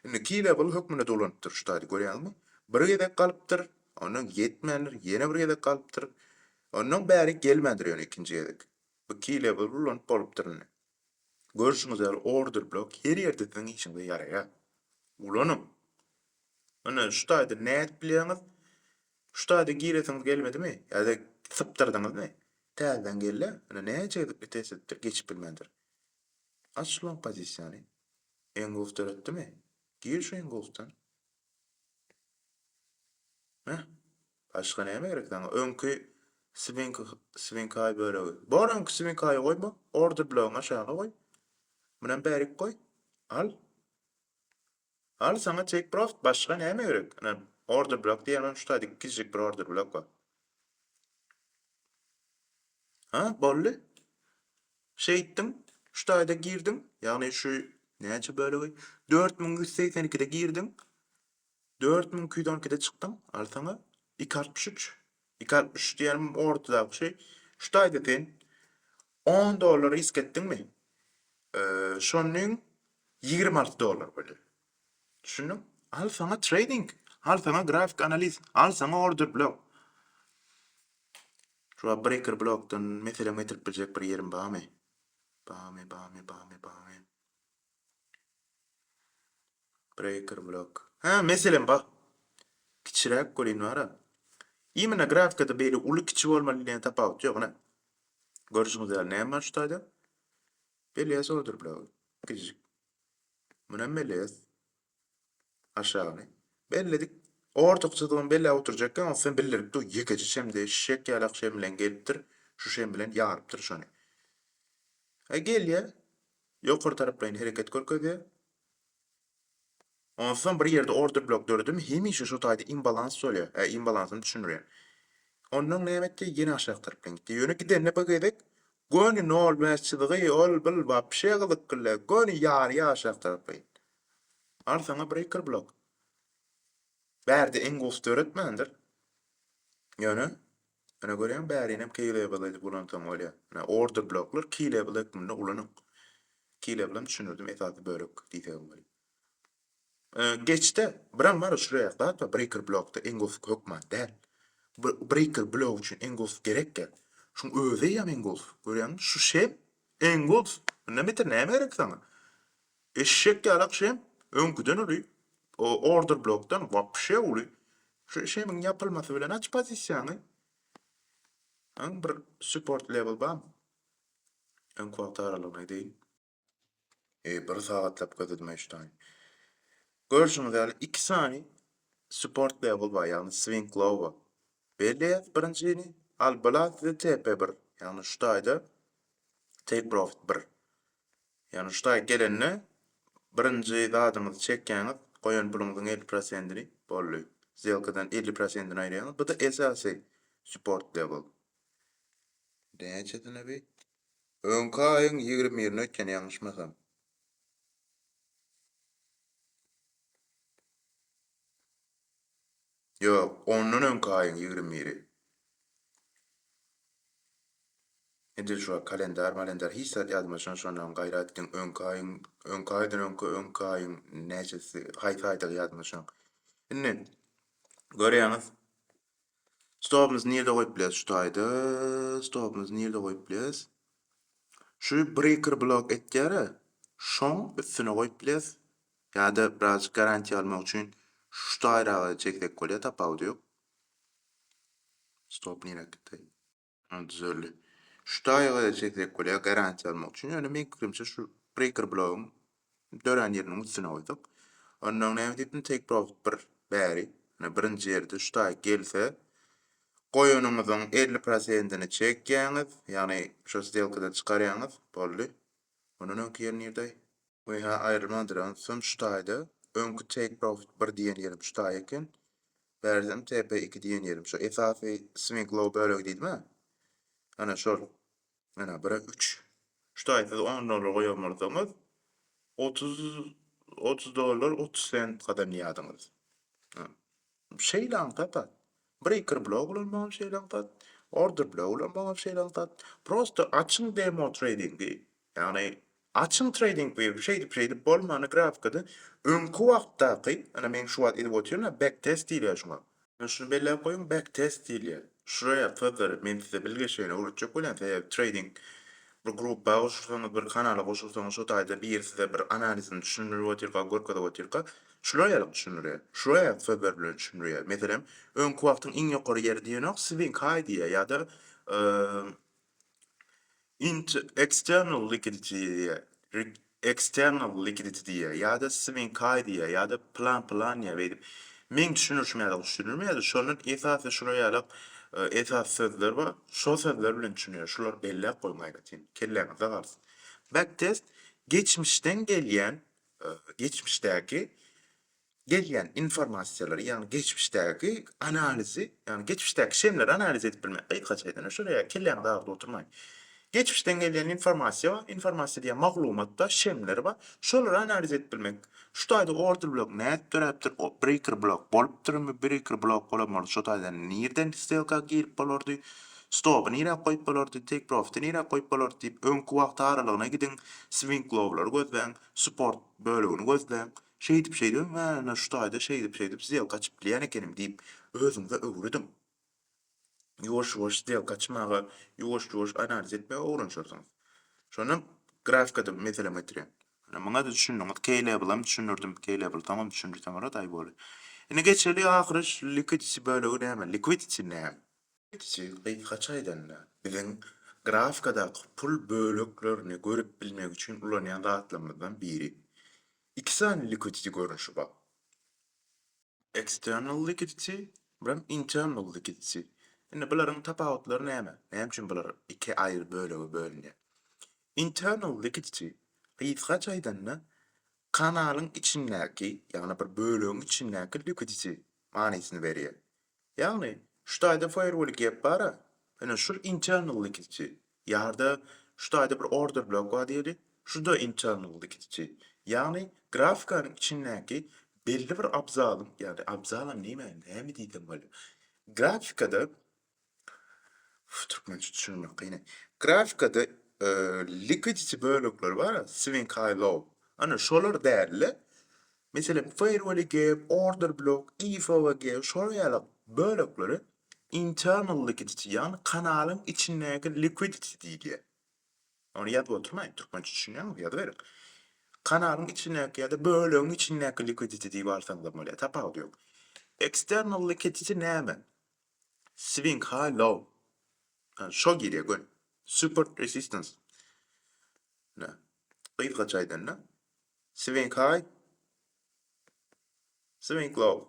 Indi key level hökmünde-de ulanyp dur şu taýda, görýäňmi? Bir gezek galypdyr, ondan ýetmändir, ýene bir gezek galypdyr, ondan bärik gelmändir ýöne ikinji gezek. Bu key level ulanyp bolupdyr indi. Görşüňiz ýaly order blok her ýerde siziň işiňize ýaraýar. Ulanyň. Ine şu taýda nädip bilýäňiz? Şu taýda giresiňiz gelmedimi? Ýa-da sypdyrdyňyzmy? Täzeden gelle. Ine näçe gezek bir test edipdir, geçip bilmändir. Aç long pozisiýany. Engulf döretdimi? Gir şu engulfdan. Heh. Başga näme gerek saňa? Öňki swing swinkaý bölegi. Bor öňki swinkaýy goýma. Order blogyňy aşaga goý. Munam bärik goý. Al. Al saňa take profit. Başga näme gerek? Ine order blok diýen onam şu taýda ikijik bir order blok bar. Ha, boldy. Şeýtdim. Şu taýda girdim. Ýagny şu näçe bölegi? 4182-de girdim. Dört müň iki ýüz on ikide çykdyň, al saňa iki altmyş üç. Iki altmyş üç diýenim ortadaky şey. Şu taýda sen on dollar risk etdiňmi? Şonuň ýigrimi alty dollar bolýar. Düşündiň? Al saňa trading, al saňa grafik analiz, al saňa order blok. Şu breaker blokdan meselem getirip biljek bir ýerim barmy? Barmy, barmy, barmy, barmy? Breaker block. Hä, meselem bar. Kiçiräk welin bar-a. Imенно grafikada beýle uly kiçi bolmaly diýen tapawut ýok, ine. Görşüňiz ýaly näme bar şu taýda? Belez order blogy. Kiçijik. Munam belez. Aşagyny. Belledik. Ortaky çyzygyny belläp oturjakka ony sen bildirip dur. Ýekeje şemde şek ýalak şem bilen gelipdir. Şu şem bilen ýarypdyr şony. E gelýä. Ýokary taraplaýyn hereket görkezýä. Onsoň bir ýerde order blok döredimi hemişe şu taýda imbalans bolýa. E imbalansyny düşündirýän. Ondan näme etdi? Ýene aşak tarapdan gitdi. Ýöne gidende bir gezek göni 0,5 çyzygy ol bil wapşe gyzykly. Göni ýarýa aşak taraplaýyn. Al saňa breaker blok. Bärde iň gowusy döretmändir. Ýöne Ene görýäň bärinem key level edip ulansaň bolýa. Ene order bloklar key level hökmünde ulanyň. Key level hem düşündirdim esasy bölek diýsegem bolýa. Geçde biram bar uçraýak zat bar breaker blokda iň gowusy hökman däl. Breaker blok üçin iň gowusy gerek ya. Şuň özi eýýäm iň gowusy. Görýäňmi şu şem iň gowusy. Mundan beter näme gerek saňa. Eşek ýaly akşam öňküden uly order blokdan wapşe uly şu işemiň ýapylmasy bilen aç pozisiýaňy öň bir support level bamy öňki wagt aralygyny aýdaýyn. Eý bir sagatlap gözledim eýşdaýyn. Görşüňiz ýaly iki sany support level bar ýagny swing low bar. Belleýäs birinjini al blat we TP bir ýagny şu taýda take profit bir. Ýagny şutaýy gelende birinji zadyňyzy çekýäňiz, goýan puluňyzyň elli prosentini, boldy. Zýelkadan elli prosentini aýyrýaňyz. Bu-da esasy support level. Indi näçesine bi? Öňki aýyň ýigrimi birine öýtýän ýalňyşmasam. Ýok, ondan öňki aýyň ýigrimi biri. Edil şu kalendar-malendar hiç zat ýadyma düşen şondan gaýrat diň öňki aýyň, öňki aýdan öňki, öňki aýyň näçesi, haýsy aýdygy ýadyma düşen. Indi görýäňiz, stobymyzy nirde goýup bileris şu taýda, stobymyzy nirde goýup bileris? Şu breaker blok etýär-ä, şoň üstüne goýup bileris. Ýa-da birazjyk garantiýa almak üçin şu taýraga çeksek bolýar tapawudy ýok. Stop nirä gitdi? Ha düzeldi. Şu taýraga çeksek bolýar garantiýa almak üçin. Ýöne meň pikirimçe şu breaker blogyň dörän ýeriniň üstüne goýsak. Onnoň näme diýipdim take profit bir bäri. Ýöne birinji ýerde şu taý gelse goýanyňyzyň elli prosentini çekýäňiz. Ýagny şu stelkadan çykarýaňyz boldy. Ondan öňki ýer nirdeý? Ynha aýrylmadyr onsam şu taýda öňki take profit bir diýen ýerim şu taý eken bärizem TP iki diýen ýerim şu esasy swing low bölegi diýdimä ana şol ana bire üç şu taý siz on dollar goýan bolsaňyz otuz otuz dollar otuz sent gazanýardyňyz Şeýlem zat-a. Breaker blok bilen bolan şeýlem zat, order blok bilen bolan şeýlem zat. Prosta açyň demo treýdingi, ýagny açyň treýding wewi şeýdip şeýdip bolmany grafikada öňki wagtdaky, ine men şu wagt edip otyryn-a back test diýilýär şuňa. Ine şuny belläp goýuň back test diýilýär. Şuraya sözleri men size bilgeşleýin öwretjek bolýan sebäbi treýding Bir gruppa goşulsaňyz, bir kanala goşulsaňyz şo taýda biri size bir analizini düşündirip otyrka, görkezip otyrka, şular ýaly düşündirýär, şular ýaly sözler bilen düşündirýär. Meselem, öňki wagtyň iň ýokary ýeri diýenok, Swing High diýýär ýa-da Int External Liquidity diýýär. External likiditidiýa ýa-da swinkaýdiýa ýa-da plan planiýa beýdip meň düşünirişim ýaly düşünilmeýär-de şondan esasy şular ýalak esas sözler bar şo sözler bilen düşünýär şulary belläp goýuň aýratyn kelläňizde galsyn. Backtest geçmişden gelýän geçmişdäki gelýän informasiýalary, ýagny geçmişdäki analizi, ýagny geçmişdäki şemleri analiz edip bilmek, gysgaça aýdanda şol, ýa kelläňizi agyrdyp oturmaýyn. Geçmişden gelýän informasiýa bar, informasiýa diýýän maglumat bar, şemleri bar, şolary analiz edip bilmek. Şu taýda order blok nädip döräpdir, breaker blok bolupdyrmy, breaker blok bolan bolsa şo taýda nireden stelka girip bolardy, stoby nirä goýup bolardy, take profity nirä goýup bolardy diýip öňki wagt aralygyna gidiň, swing lowlary gözläň, support bölegini gözläň. Şeýdip şeýdibem we ýa-da şu taýda şeýdip şeýdip sdelka açyp bilýän ekenim diýip özüňize öwrediň. Ýuwaş ýuwaş sdelka açmaga, ýuwaş ýuwaş analiz etmegi öwrenşersiňiz. Şonda grafikada meselem getirýän. Ine muňada düşündiňiz, keýlebilam düşündirdim, keýlebil soňam düşündirsem boladaý boli. Indi geçeli ahyry şu liquidity bölegi näme, liquidity näme? Kiçi, gysgaça aýdanda, biziň grafkadaky pul böleklerini görüp bilmek üçin ulanýan zatlarymyzdan biri. Iki sany liquidity görnüşi bar. External liquidity we hem internal liquidity. Indi bularyň tapawutlary näme? Näme üçin bular iki aýry bölege bölünýär? Internal liquidity, gysgaça aýdanda, kanalyň içindäki, ýagny bir bölegiň içindäki liquidity manysyny berýär. Ýagny, şu taýda faýerwol gep bar-a, ine, şul internal likidçi, ýa-da şu taýda bir order blok bar diýeli, şu-da internal likidçi. Ýagny, grafikanyň içindäki belli bir abzalyň, ýagny, abzalam näme, näme diýsem bolýar? Grafikada, türkmençe düşünmek kyn-a, grafikada likidity bölekler bar-a, swing high low, ana, şolar däl-de, Meselem, Firewall-e gap, Order block, EFOA-g şolar ýaly bölekleri internal liquidity, ýagny kanalyň içindäki liquidity diýilýär. Ony ýazyp oturmaýyn, türkmençe düşünýäňizmi, ýazyberiň. Kanalyň içindäki ýa-da bölegiň içindäki liquidity diýip alsaňyzam bolýar, tapawudy ýok. External liquidity näme? Swing high, low. Hany şo girýär göni. Support, resistance. Hany, gysgaça aýdanda, Swing high. Swing low.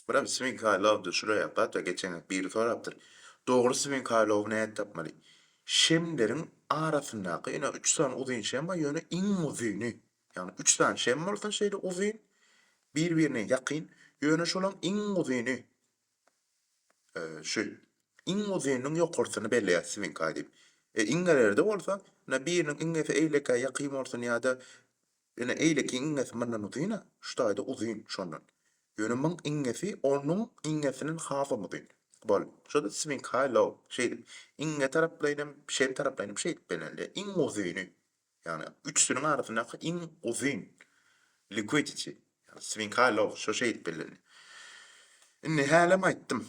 Biram swing high low dur şuraya gatta geçen biri sorapdyr. Dogry swing high low näet tapmaly? Şemleriň arasyndaky ine 3 sany uzyn şem bar ýöne iň uzyny. Ýagny 3 sany şem bolsa şeýle uzyn bir-birine ýakyn ýöne şolaň iň uzyny. Şu iň uzynnyň ýokarsyny belleýär swing aý diýip. E iňňelerde bolsa, ine biriniň iňňesi eýlekä ýakyn bolsun ýa-da ine eýlekiň iňňesi mundan uzyn-a, şu taýda uzyn şondan. Ýöne muň iňňesi onuň iňňesinden hasam uzyn. Boldy. Şo-da swing high low şeýdip. Iňňe taraplaýynam, şem taraplaýynam şeýdip bellenilýär. Iň uzyny. Ýagny üçüsiniň arasyndaky iň uzyn liquidity, ýagny swing high low şo şeýdip bellenilýär. Indi hälem aýtdym.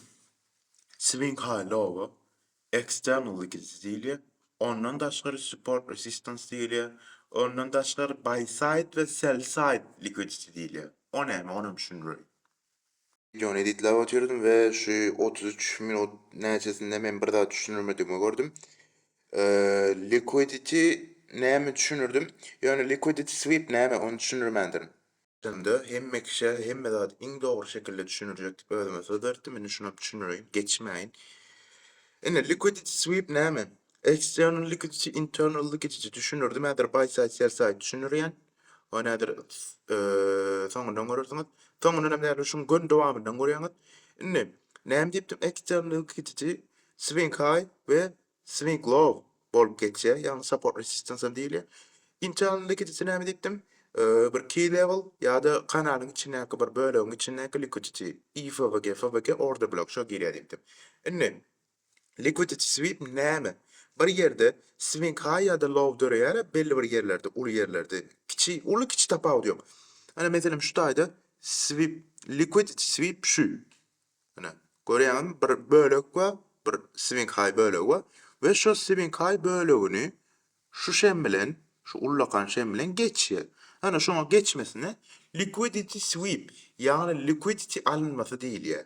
Swing high low-a external liquidity diýilýär. Ondan daşgary support resistance diýilýär. Ondan daşgary buy side we sell side liquidity diýilýär. O näme onam düşündireýin. Wideony editlap otyrdym we şu otuz üç minut näçesinde men bir zat düşündirmedigimi gördüm. Liquidity näme düşündirdim? Ýöne liquidity sweep näme ony düşündirmändirin. Şonda hemme kişä hemme zady iň dogry şekilde düşündirjek diýip özüme söz beripdim. Indi şuny düşündireýin, geçmäýin. Indi liquidity sweep näme? External liquidity, internal liquidity düşündirdim. Häzir buy side, sell side düşündirýän. Ol nädir, soňundan görersiňiz. Soňundan hem däl, şuň gön dowamyndan görýäňiz. Indi, näme diýipdim, eksternalyň kitiji swing high we swing low bolup geçýär, ýagny support resistance hem diýilýär. Inçe alyndy kitiji näme diýipdim, bir key level ýa-da kanalyň içindäki bir bölegiň içindäki likidity, IFVG, FVG order block şo girýär diýipdim. Indi, Liquidity sweep näme? Bir ýerde swing high ýa-da low döreýär-ä belli bir ýerlerde, uly ýerlerde, kiçi, uly-kiçi tapawudy ýok. Ine, meselem, şu taýda sweep, liquidity sweep şu. Ine, görýäňizmi, bir bölek bar, bir swing high bölegi bar we şo swing high bölegini şu şem bilen, şu ullakan şem bilen geçýär. Ine, şoňa geçmesine liquidity sweep, ýagny liquidity alynmasy diýilýär.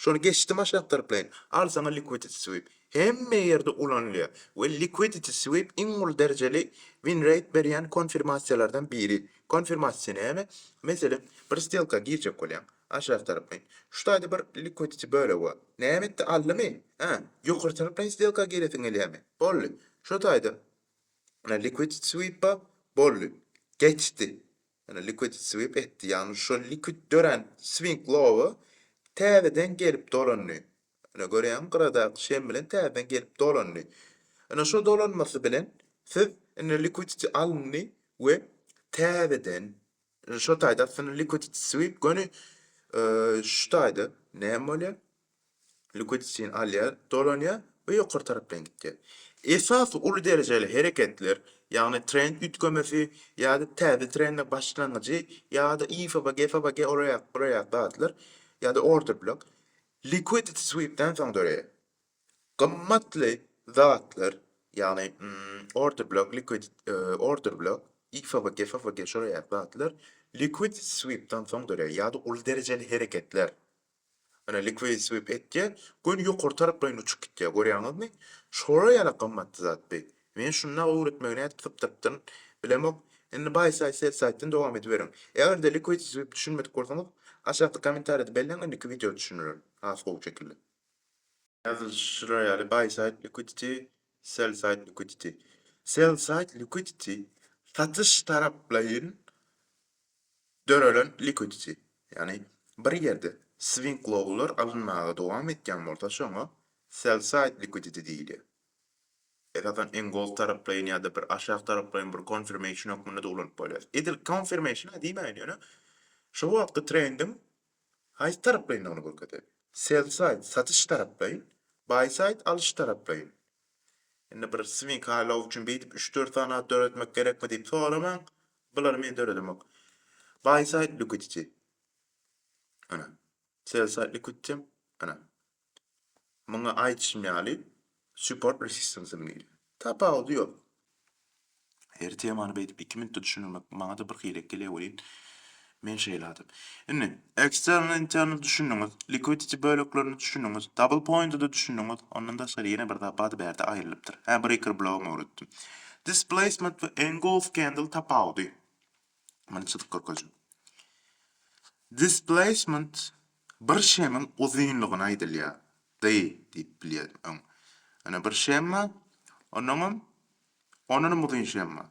Şony geçdim aşak tarplaýyn. Al saňa Liquidity Sweep. Hemme ýerde ulanylýar we Liquidity Sweep iň uly derejeli win rate berýän konfirmasiýalardan biri. Konfirmasiýa näme? Meselem, bir stelka girjek bolýaň. Aşak tarplaýyn. Şu taýda bir Liquidity bölegi bar. Näme etdi, aldymy? Hä? Ýokary tarplaýyn stelka giresiň gelýärmi? Boldy. Şu taýda Liquidity Sweep bar. Boldy. Geçdi. Ýöne liquid sweep etdi, ýagny şol liquid dörän swing low-a täzeden gelip dolandy. Ine görýäňmi gyradaky şem bilen täzeden gelip dolandy. Ine şo dolanmasy bilen siz indi liquidity alyndy we täzeden şo taýda aslynda liquidity sweep göni şu taýda näme bolýar? Leukotsitin alýar, dolanýar we ýokary tarapdan gidýär. Esasy uly derejeli hereketler, ýagny trend üýtgemesi ýa-da täze trendiň başlangyjy ýa-da IFAB, GFAB, GFAB, olar ýaly, bular ýaly zatlar ýa-da orta blok liquidity sweep-den soň döreýär. Gymmatly zatlar, ýagny orta blok, liquidity, order blok, IFAB, GFAB, şolar ýaly zatlar liquidity sweep-den soň döreýär ýa-da uly derejeli hereketler. Ana liquid sweep etýä, göni ýokary taraplaýyn uçup gitýä, görýäňizmi? Şolar ýaly gymmatly zat bi. Men şunda öwretmegi nädip sypdyrypdyryn, bilemok. Indi by side sell side-den dowam ediberiň. Eger-de liquid sweep düşünmedik bolsaňyz, aşakda kommentariýada belläň indiki wideoda düşündirerin. Has gowy şekilde. Ýazylyşlar ýaly by side liquidity, sell side liquidity. Sell side liquidity, satyş taraplaýyn Dörelen liquidity, ýagny bir ýerde swing lowlar alynmaga dowam etýän bolsa şoňa sell side liquidity diýilýär. Esasan engold taraplaýyn ýa-da bir aşak taraplaýyn bir confirmation hökmünde de ulanyp bolýar. Edil confirmation-a diýmäýin ýöne şo wagtky trendiň haýsy taraplaýyndygyny görkezýär. Sell side satyş taraplaýyn, buy side alyş taraplaýyn. Indi bir swing high low üçin beýdip üç dört sany at döretmek gerekmi diýip soramaň, Bulary men döredemok. Buy side liquidity. Ana. Sell side liquidity. Ana. Muňa aýdyşym ýaly support resistance diýilýär. Tapawudy ýok. Her temany beýdip 2 minutda düşündirmek maňa-da bir hili gelýär welin, Men şeýle adam. Indi, eksterni, interni düşündiňiz, liquidity böleklerini düşündiňiz, double point-a-da düşündiňiz, ondan daşgary ýene bir zat bady bärde aýrylypdyr. Hä, breaker blow-am öwretdim. Displacement we engulf candle tapawudy. Muny çyzyp görkezjek. Displacement bir şemiň uzynlygyna aýdylýar. D diýip bilýärin öň. Ine bir şemma, onnoňam, ondanam uzyn şemma.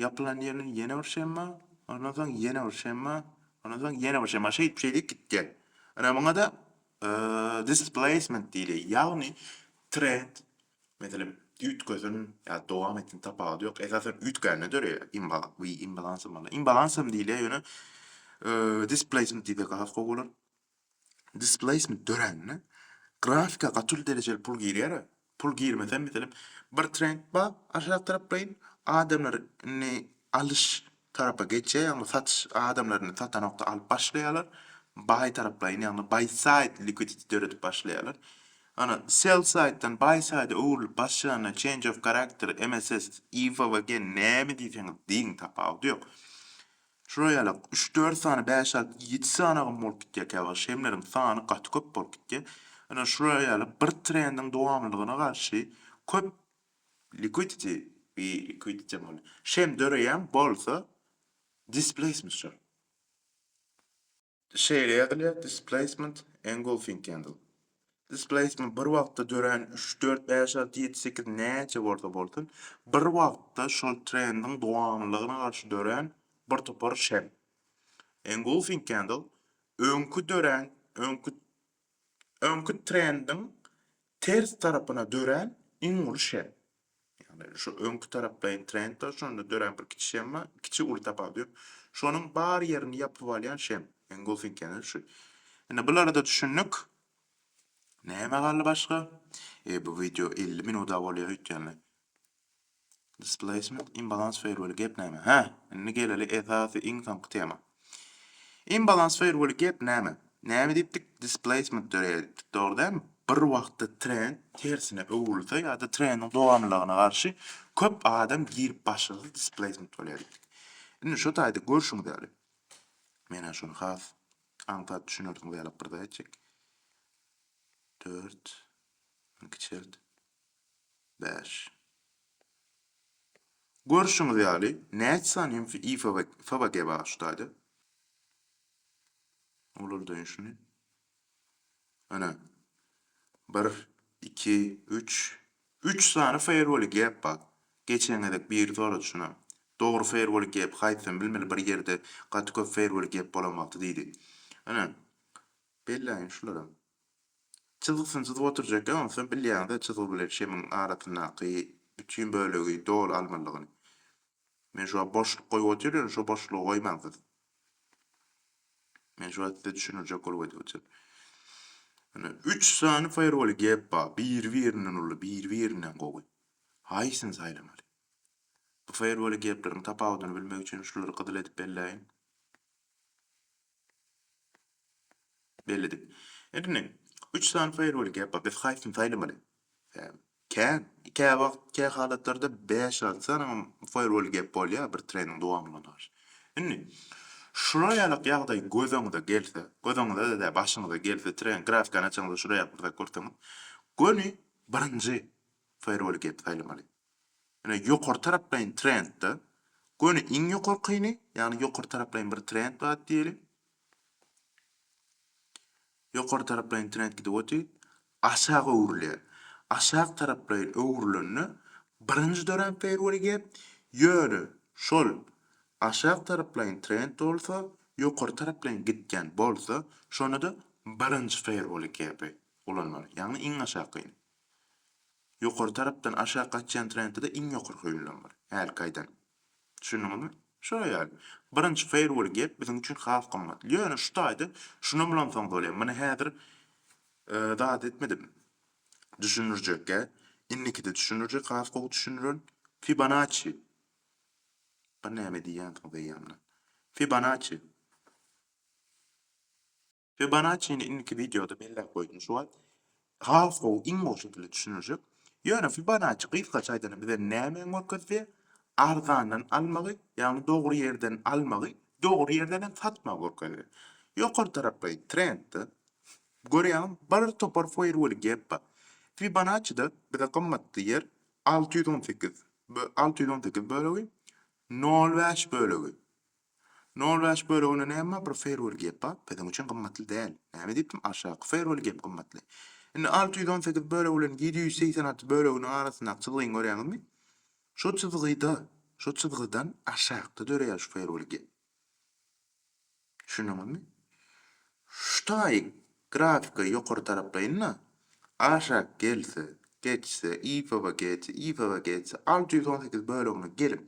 Ýapylan ýerine ýene bir şemma, ondan soň ýene bir şemma, ondan soň ýene bir şemma. Şeýdip, şeýdip gitýär. Ine, muňa da displacement diýilýär. Ýagny trend, meselem, üýtgesin ýa-da dowam etsin, tapawudy ýok, esasan üýtgände döreýär. Imba, wi, imbalans bolanda. Imbalans hem diýilýär, ýöne displacement diýsek has gowy bolar. Displaysment dörände grafika gaty uly derejeli pul girýär. Pul girmese meselem bir trend bar aşak taraplaýyn adamlar indi alyş tarapa geçýär ýagny satyş adamlar indi satanokda alyp başlaýarlar baý taraplaýyn ýagny baý saýt liquidity döredip başlaýarlar. Ana sell saýtdan baý saýda öwrülip başlanda change of character MSS, EVA we gen näme diýseňiz diýiň tapawudy ýok. Şular ýaly üç-dört sany, bäş-alty, ýedi sanagam bolup gidýär käwagt. Şemleriň sany gaty köp bolup gidýär. Ine, şular ýaly bir trendiň dowamlylygyna garşy köp liquidity we liquidity diýen bolýar. Şem döreýän bolsa, displacementdir. Şeýle ýazylýar, Displacement, engulfing candle. Displacement bir wagtda dörän üç, dört, bäş, alty, ýedi, sekiz näçe bolsa bolsun, bir wagtda şol trendiň dowamlylygyna garşy dörän bir topar şem. Engulfing candle öňki dörän, öňki öňki trendiň ters tarapyna dörän iň uly şem. Ýagny şu öňki taraplaýyn trend bar, şonda dörän bir kiçi şem bar, kiçi uly tapawudy ýok. Şonuň bar ýerini ýapyp alýan şem, engulfing ýagny şu. Indi bulara-da düşündik. Näme galdy başga? Eý bu wideo elli minuda bolýa öýtýänler. Displacement, imbalans ferweli gep näme? Hä, indi geleli esasy iň soňky tema. Imbalans ferweli gep näme? Näme diýipdik? Displacement döreýär diýipdik, dogry dälmi? Bir wagtda trend tersine öwrülse ýa-da trendiň dowamlylygyna garşy köp adam girip başlasa displacement bolýar diýipdik. Indi şu taýda görşüňiz ýaly, men-ä şuny has aňsat düşünersiňiz ýalyk bir zat etjek. Dört, muny kiçelt. bäş. Görşüňiz ýaly, näçe sany hem i FBG bar şu taýda. Olarda ýşuny. Ana. Bir, iki, üç. Üç sany firewall gap bar. Geçen gezek biri sorady şuna. Dogry firewall gap haýsysyn bilmeli bir ýerde gaty köp firewall gap bolan wagty diýdi. Ana. Belläýin şulara. Çyzgysyny çyzyp oturjak ýok, onsoň bilýäňiz-ä çyzgy bilen şemiň arasyndaky bütin bölegi doly almalydygyny. Men şu wagt boşluk goýup otyryn, ýöne şo boşlugy goýmaň siz. Men şu wagt size düşündirjek bolup aýdyp otyryn. Ine, üç sany feýerweli gep bar, biri-birinden uly, biri-birinden gowy. Haýsyny saýlamaly? Bu feýerweli gepleriň tapawudyny bilmek üçin şulary gyzyl edip belläýin. Belledik. Indi ine, üç sany firewall gap bar. Biz haýsyny saýlamaly? Hä, kä, kä wagt, kä halatlarda bäş-alty sany firewall gap bolýar bir treniň dowamynda garşy. Indi, şular ýalak ýagdaý göz öňüňize gelse, göz öňüňize-de, başyňyza gelse, treniň grafikany açaňyzda şular ýaly bir zat görseňiz, göni birinji firewall gap saýlamaly. Ine, ýokary taraplaýyn trendde, göni iň ýokarkyny, ýagny ýokary taraplaýyn bir trend bar diýeliň. Ýokary taraplaýyn trend gidip otyr, aşak öwrülýär. Aşak taraplaýyn öwrülende birinji dörän perweri gep, ýöne şol aşak taraplaýyn trend bolsa, ýokary taraplaýyn gitýän bolsa, şonda-da birinji perweri gepi ulanmaly, ýagny iň aşakyny. Ýokary tarapdan aşak gaçýan trendde-de iň ýokary höýülen bar. Häli gaýdan. Düşündiňizmi? Şo ýaly. Birinji Fairwall gep biziň üçin has gymmat. Ýöne şu taýda şunam ulansaňyz bolýar. Muny häzir zat etmedim. Düşündirjekgä. Indikide düşündirjek has gowy düşündiren. Fibonacci. Bir näme diýýänsiňiz eýýämden. Fibonacci. Fibonacci-ni indiki wideoda belläp goýdum şu wagt. Has gowy, iň gowy şekilde düşüniljek. Ýöne Fibonacci gysgaça aýdanda bize nämäni görkezdi? Arzandan almagy, ýagny dogry ýerden almagy, dogry ýerden hem satmagy görkezdi. Ýokary tarapky trendde görýäňmi bir topar foýrwel gep bar. Fibonacci-de bize gymmatly ýer alty ýüz on sekiz, alty ýüz on sekiz bölegi nol bäş bölegi Nol bäş bölegine näme bir firwol gep bar, biziň üçin gymmatly däl. Näme diýipdim, aşaky firwol gep gymmatly. Indi alty ýüz on sekiz bölek bilen ýedi ýüz segsen alty böleginiň arasyndaky çyzgyny görýäňizmi? Şo çyzgyda, şo çyzgydan aşakda döreýär şu firwol gep. Düşündiňizmi? Şutaý grafika ýokary taraplaýyn-da, aşak gelse, geçse, IFV geçse, IFV geçse, alty ýüz on sekiz bölegine gelip,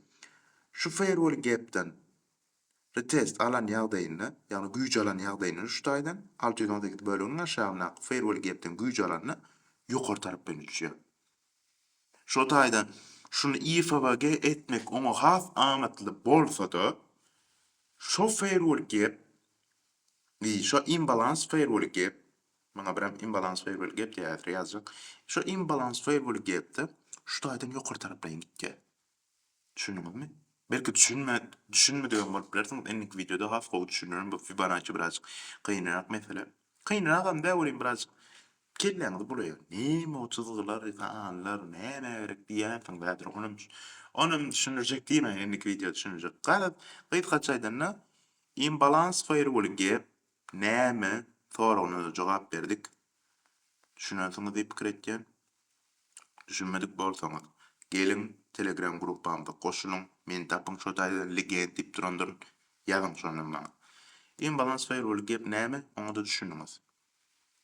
şu Feýrwol gepden retest alan ýagdaýynda, ýagny güýç alan ýagdaýynda şutaýdan, alty ýüz on sekiz böleginiň aşagyndaky Feýrwol gepden güýç alanda ýokary taraplaýyn uçýar. Şo taýdan şuny IFV ge etmek oňa has amatly bolsa-da, şo Feýrwol gep Indi şo imbalans feýrwuly gep, maňa biram imbalans feýrwuly gep diýýär häzir ýazjak. Şo imbalans feýrwuly gepde şu taýdan ýokary taraplaýyn gitýär. Düşündiňizmi? Belki düşünme düşünmedigem bolup bilersiňiz, indiki wideoda has gowy düşündirerin bu Fibonacci birazjyk kynrak mesele. Kynragam dä welin birazjyk kelläňizi bulaýar. Näme o çyzgylar, sanlar nämä gerek diýersiňiz häzir onam onam düşündirjek diýmäýin indiki wideoda düşündirjek. Garaz gysgaça aýdanda Imbalans firewall gep näme soragyna-da jogap berdik. Düşünensiňiz diýip pikir etýän. Düşünmedik bolsaňyz, geliň telegram gruppamyza goşulyň, meni tapyň şo taýda Legend diýip durandyryn, ýazyň şondan maňa. Imbalans firewall gep näme, oňa-da düşündiňiz.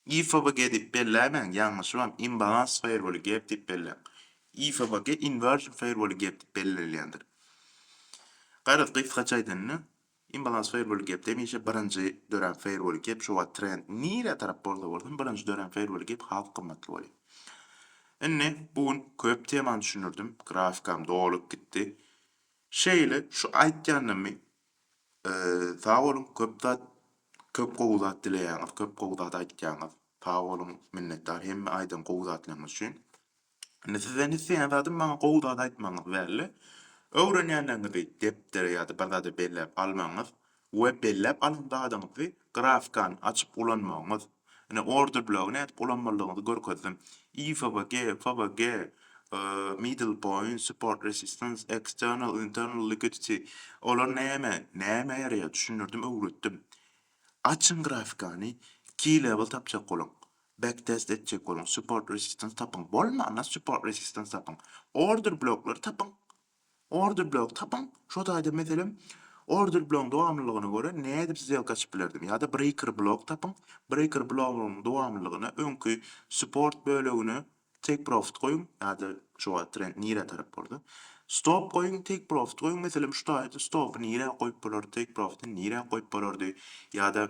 IFBG diýip belläýmäň, ýalňyşybam, Imbalans Firewall Gap diýip belläň. IFBG Inversion Firewall Gap diýip bellenilýändir. Garaz, gysgaça aýdanda, Imbalans Firewall Gap hemişe birinji dörän Firewall Gap, şu wagt trend nirä tarap bolsa bolsun, birinji dörän Firewall Gap has gymmatly bolýar. Indi bu gün köp temany düşündirdim, grafikam dolup gitdi. Şeýle, şu aýtýanymy Sag boluň köp zat köp gowy zat dileýäňiz köp gowy zat aýtýaňyz sag boluň minnetdar hemme aýdan gowy zatlaryňyz üçin indi sizden isleýän zadym maňa gowy zat aýtmagyňyz welle öwrenýänleriňizi depdere ýa-da bir zada belläp almagyňyz we belläp alan zadyňyzy grafkany açyp ulanmagyňyz. Ine, order blogy nädip ulanmalydygyňyzy görkezdim. IFBG, FBG, middle point, support resistance, external, internal liquidity, olar näme, nämä ýaraýar, düşündirdim, öwretdim. Açyň grafikany, key level tapjak boluň, back test etjek boluň, support resistance tapyň, bolmanda support resistance tapyň, order bloklary tapyň, Order blok tapyň, şo taýda meselem order blogyň dowamlylygyna görä nädip sdelka açyp bilerdim ýa-da breaker blok tapyň, breaker blogyň dowamlylygyna öňki support bölegine take profit goýuň ýa-da şo wagt trend nirä tarap boldy stop goýuň take profit goýuň meselem şu taýda stopy nirä goýup bolardy take profity nirä goýup bolardy ýa-da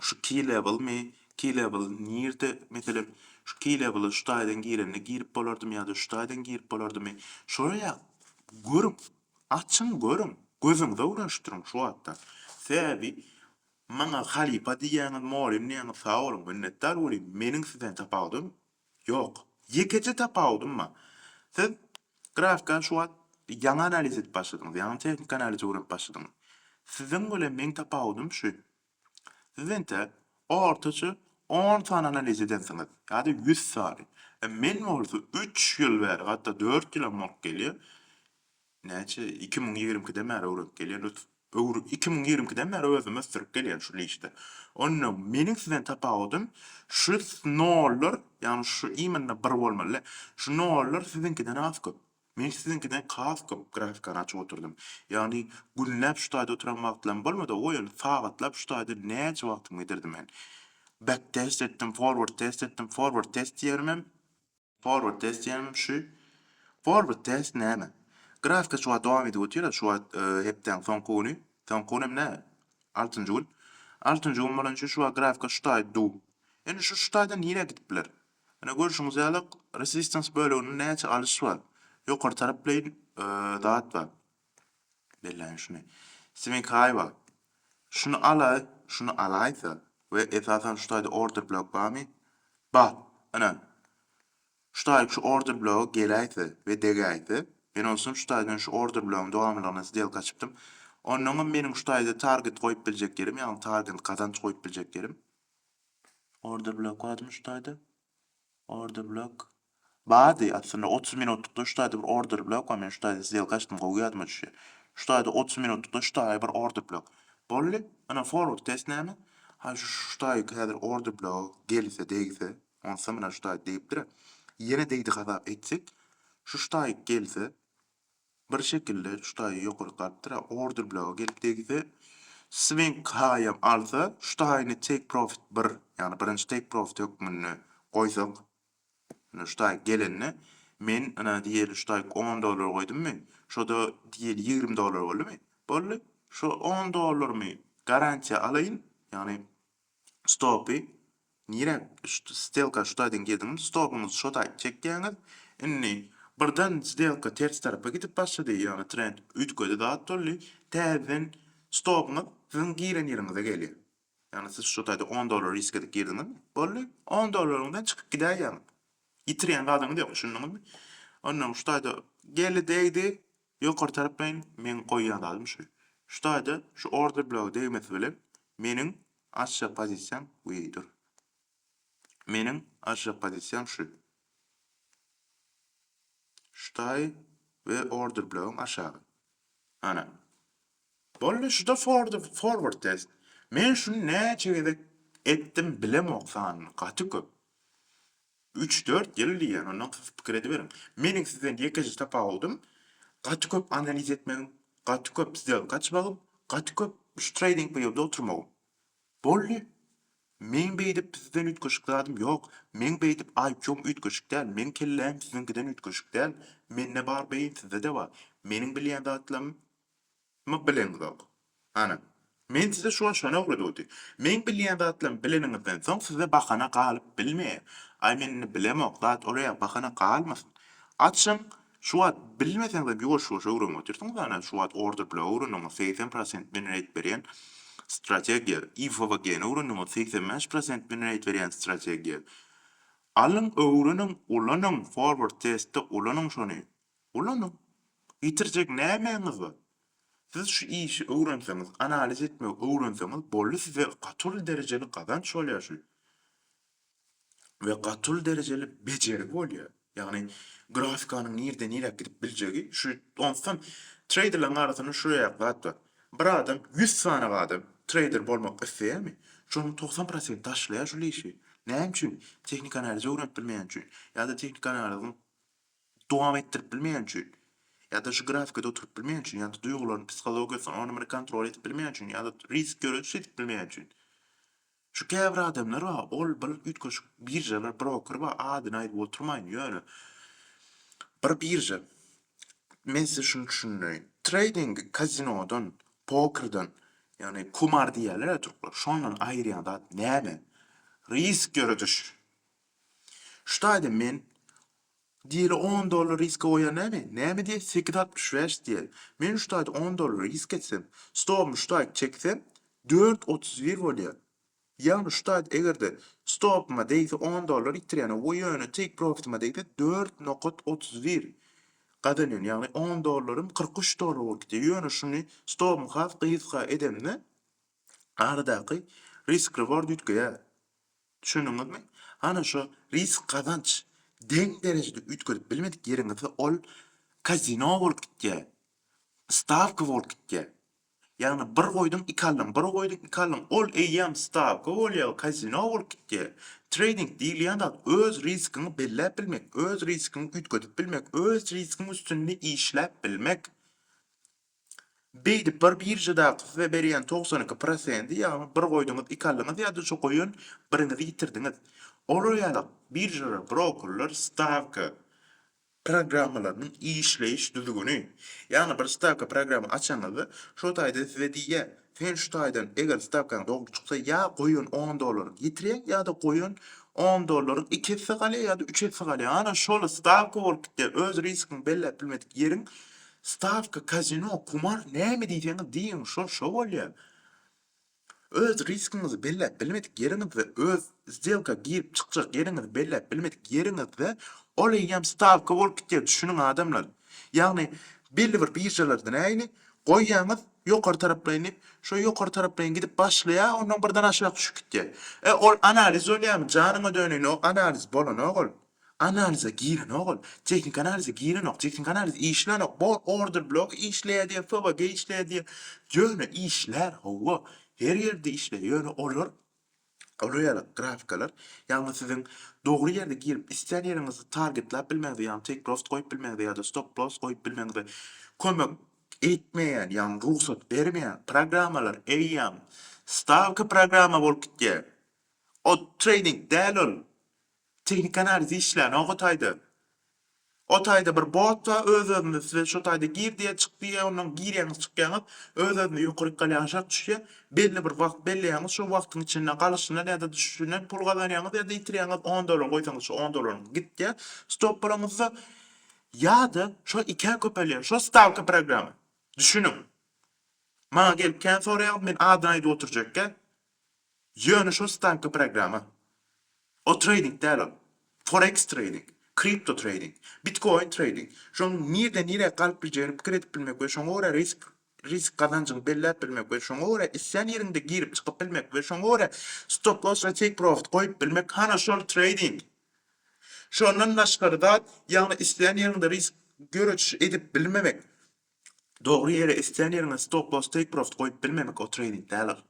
Şu key level mi? Key level nirde? Meselem, şu key levela şu taýdan girende girip bolardymy ýa-da şu taýdan girip bolardymy? Soraýar. Görüň. Açyň görüň. Gözüňize öwrenişdiriň şu wagtdan. Sebäbi maňa halypa diýýäňiz, mugallym diýýäňiz, sag boluň, minnetdar boluň. Meniň sizden tapawudym, Ýok. Ýekeje tapawudym bar. Siz grafikany şu wagt ýaňy analiz edip başladyňyz, ýaňy tehniki analize öwrenip başladyňyz. Siziň bilen meň tapawudym şu. Siz entek ortaça on sany analiz edensiňiz ýa-da ýüz sany. Men bolsa üç ýyl bäri, hatda dört ýylam bolup gelýär, Näçe? Iki müň ýigrimi ikiden bäri öwrenip gelýän ös öwr iki müň ýigrimi ikiden bäri özümi ösdürip gelýän şu işde. Onda meniň sizden tapawudym şu nollar, ýagny şu imенно bir bolmaly. Şu nollar siziňkiden has köp. Men siziňkiden has köp grafikany açyp oturdym. Ýagny günläp şu taýda oturan wagtlarym bolmady, goý indi sagatlap şu taýda näçe wagtymy gidirdim men. Back test etdim, forward test etdim, forward test diýerimem. Forward test diýenim şu. Forward test näme? Grafika şu wagt dowam edip otyr, şu wagt hepdäň soňky güni. Soňky gün hem nä? Altynjy gün. Altynjy gün bolan üçin şu wagt grafika şu taýda duw. Indi şu şu taýdan nirä gidip biler? Ine görşüňiz ýaly resistance böleginde näçe alyş bar. Ýokary tarapleýin zat bar. Belläýin şuny. Swinkaywa, Şuny alaý, şuny alaýsa we esasan şu taýda order blok barmy? Bar. Ynha, şu taýy şu order bloga geläýse we degäýse, men onsoň şu taýdan şu order blogyň dowamlylygyna sdelka açypdym. Onnoňam meniň şu taýda target goýup biljek ýerim, ýagny targent, gazanç goýup biljek ýerim. Order blok barmy şu taýda? Order blok. Bardy aslynda otuz minutlykda şu taýda bir order blok bar men şu taýda sdelka açdym gowy ýadyma düşýär. Şu taýda otuz minutlykda şu taýy bir order blok. Boldy. Ynha forward test näme? Ha şu şu taýyk häzir order blok gelse degse onsa mine şu taýy degipdira. Ýene degdi hasap etsek şu şu taýyk gelse Bir şekilde şu taýy ýokary gapdyra order bloga gelip degse swing haýam alsa şu taýyny take profit bir ýagny birinji take profit hökmünde goýsak ýöne şu taý gelende men ynha diýeli şu taýy on dollar goýdummy şoda diýeli ýigrimi dollar boldumy boldy şo on dollarmy garantiýa alaýyn ýagny Stopy nirä stelka şutaýdan girdiňmi stopyňyzy şotaýt çekýäňiz indi birden stelka ters tarapa gidip başlady ýagny trend üýtgedi zat boldy täzeden stopyňyz siziň giren ýeriňize gelýär ýagny siz şotaýda on dollar risk edip girdiňiz boldy on dollaryňyzdan çykyp gidäý ýagny ýitirýän zadyňyz ýok düşündiňizmi onnoň şutaýda geldi degdi Ýokary taraplayyn meň goýýan zadym şu. Şu taýda şu order blogy degmesi bilen meniň açjak pozisiýam wii dur. Meniň açjak pozisiýam şu. Şu taý we order blogyň aşagy. Ana. Boldy şuda fordy forward test. Men şuny näçe gezek etdim bilemok sanyny gaty köp. Üç dört ýyl diýýän ondan kysy pikir ediberiň. Meniň sizden ýekeje tapawudym gaty köp analiz etmegim, gaty köp sdelka açmagym, gaty köp şu treýding peýoda oturmagym. Boldy. Meň beýdip sizden üýtgeşik zadym ýok. Meň beýdip IQ-m üýtgeşik däl, meň kelläm siziňkiden üýtgeşik däl. Mende bar beýin sizdede bar. Meniň bilýän zatlarym. Myk bileňizok. Hany, men size şu gün şony öwredudi. Meň bilýän zatlarymy bileniňizden soň size bahana galyp bilmeýär. Aý men indi bilemok zat oläýe bahana galmasyn. Açyň, şu wagt bilmeseňizem ýuwaş-ýuwaş öwrenip otyrsyňyz ana şu wagt order blow öwrendiňiz segsen prosent win rate berýän strategiýa, IFVG-ni öwrendiňiz segsen bäş prosent win rate berýän strategiýa. Alyň öwreniň, ulanyň, forward testde ulanyň şony. Ulanyň. Ýitirjek nämäňiz bar? Siz şu işi öwrenseňiz, analiz etmegi öwrenseňiz boldy size gaty uly derejeli gazanç bolýar şu we gaty uly derejeli bejergi bolýar. Ýagny grafikanyň nirden niräk gidip biljegi şu onsuzam treýderleriň arasynda şu ýaly zat bar. Bir adam ýüz sany adam treýder bolmak isleýärmi? Şonuň togsan prosenti taşlaýar şul işi. Näme üçin? Tehnik analizi öwrenip bilmeýäni üçin ýa-da tehnik analiziň dowam etdirip bilmeýän üçin ýa-da şu grafikada oturyp bilmeýän üçin ýa-da duýgularyny, psihologiýasyny ony muny kontrol edip bilmeýän üçin ýa-da risk ýöredip edip bilmeýän üçin. Şu käbir adamlar bar, ol bir üýtgeşik biržalar, broker bar, adyny aýdyp oturmaýyn, ýöne bir birža, men size şuny düşündireýin, treýding kazinodan, pokerden, ýagny kumar diýýärler-ä türkler, şondan aýyrýan zat näme? Risk ýörediş. Şu taýda men Diýeli on dollar riska goýar näme? Näme diýýä? Sekiz altmyş bäş diýýä. Men şu taýda on dollar risk etsem, stobumy şu taýda çeksem, dört otuz bir bolýar. Ýagny şu taýda eger-de stopuma degse on dollar ýitirýän, we ýöne take profityma degse dört nokat otuz bir gazanýan. Ýagny on dollarym kyrk üç dollar bolup gidýär. Ýöne şuny stobumy has gysga edemde aradaky risk reward üýtgeýär. Düşündiňizmi? Hany şu risk-gazanç deň derejede üýtgedip bilmedik ýeriňizde ol kazino bolup gitýär, stawka bolup gitýär. Ýagny bir goýduň, iki aldyň, bir goýduň, iki aldyň, ol eýýäm stawka bolýar, kazino bolup gitýär. Treýding diýilýän zat öz riskiňi belläp bilmek, öz riskiňi üýtgedip bilmek, öz riskiň üstünde işläp bilmek. Beýdip bir biržadaky size berýän togsan iki prosendi ýagny bir goýduňyz iki aldyňyz ýa-da şu goýan biriňizi ýitirdiňiz. Olar ýaly biržalar, brokerler stawka programmalarynyň işleýiş düzgüni. Ýagny bir stawka programma açanyňyzda şo taýda size diýýär, Sen şu taýdan eger stawkaň dogry çyksa ýa goýan on dollaryňy ýitirýäň ýa-da goýan on dollaryň iki esse galýar ýa-da üç esse galýar ana şol stawka bolup gitýär öz riskiňi belläp bilmedik ýeriň stawka kazino kumar näme diýseňiz diýiň şol şo bolýar öz riskiňizi belläp bilmedik ýeriňizde öz sdelka girip çykjak ýeriňizi belläp bilmedik ýeriňizde ol eýýäm stawka bolup gitýär düşüniň adamlar ýagny belli bir biržalarda nähili goýýaňyz Ýokary taraplaýyn diýip, şo ýokary taraplaýyn gidip başlaýar, ondan birden aşak düşüp gitýär. E, ol analiz bolýarmy? Janyňa döneýin, o analiz bolanok ol. Analize girenok ol. Tehniki analize girenok. Tehniki analiz işlänok. Bor, order blogy işleýär diýer, FWG işleýär diýer. Ýöne işlär, hawa. Her ýerde işleýär. Ýöne olar Roýalyk grafikalar, ýagny siziň dogry ýerde girip, islän ýeriňizi targetläp bilmegiňize, ýagny take profit goýup bilmegiňize ýa-da stop loss goýup bilmegiňize kömek etmeýän, ýagny rugsat bermeýän programmalar eýýäm stawka programma bolup gitýär. Ol treýding däl ol. Tehniki analiz işlänok o taýda. O taýda bir bot bar öz-özünden size şo taýda gir diýýär, çyk diýýär, ondan girýäňiz, çykýaňyz, öz-özünden ýokaryk galýar, aşak düşýär. Belli bir wagt belleýäňiz, şo wagtyň içinde galyşyndan ýa-da düşüşinden pul gazanýaňyz ýa-da ýitirýäňiz, on dollar goýsaňyz şo on dollaryňyz gitýär stop bolanyňyzda. Ýa-da şo ikä köpelýär, şo stawka programma. Düşüniň. Maňa gelip kän soraýaňyz, men adyny aýdyp oturjakka. Ýöne şol stavka programma. O treýding däl ol. Forex treýding, kripto treýding, bitkoin treýding. Şoň nirden nirä galyp biljegini pikir edip bilmek we şoňa görä risk risk gazanjyňy belläp bilmek we şoňa görä islän ýeriňde girip çykyp bilmek we şoňa görä stop loss we take profit goýup bilmek hana şol treýding. Şondan daşgary zat ýagny islän ýeriňde risk göreçi edip bilmemek. Dogry ýere islän ýeriňe stop loss take profit goýup bilmemek ol treýding däl ol.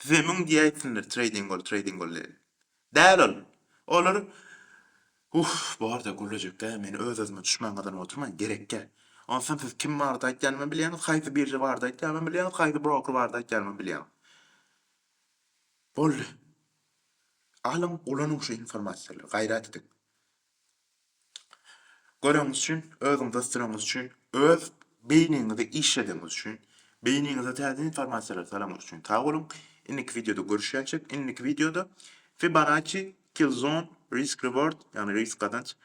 Size müň diýä etsinler treýding ol treýding ol diýip. Däl ol. Olar Uff borda gürlejekkä men öz özüme duşman gazanyp oturmaýyn gerekkä. Onsam siz kim barada aýtýanymy bilýäňiz haýsy birža barada aýtýanymam bilýäňiz haýsy broker barada aýtýanymam bilýäňiz. Boldy. Alyň ulanyň şu informasiýalary gaýrat ediň. Göreniňiz üçin, özüňizi ösdüreniňiz üçin, öz beýniňizi işledeniňiz üçin, beýniňize täze informasiýalary salanyňyz üçin sag boluň. Indiki wideoda görüşýänçik, indiki wideoda Fibonacci, Killzone, Risk Reward, ýagny risk gazanç,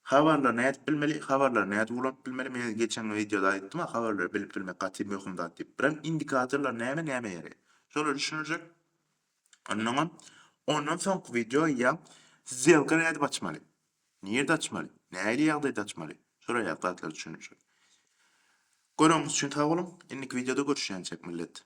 habarlary nädip bilmeli, habarlary nädip ulanyp bilmeli, men geçen wideoda aýtdym-a, habarlary bilip bilmek gaty möhüm zat diýip. Birem indikatorlar näme, nämä ýaraýar? Şolar düşüniljek. Anlaňam. Ondan soňky wideo ýa Sdelka nädip açmaly? Nirde açmaly? Nähili ýagdaýda açmaly? Şolar ýaly zatlary düşündirjek. Göreniňiz üçin sag boluň. Indiki wideoda görüşýänçek millet.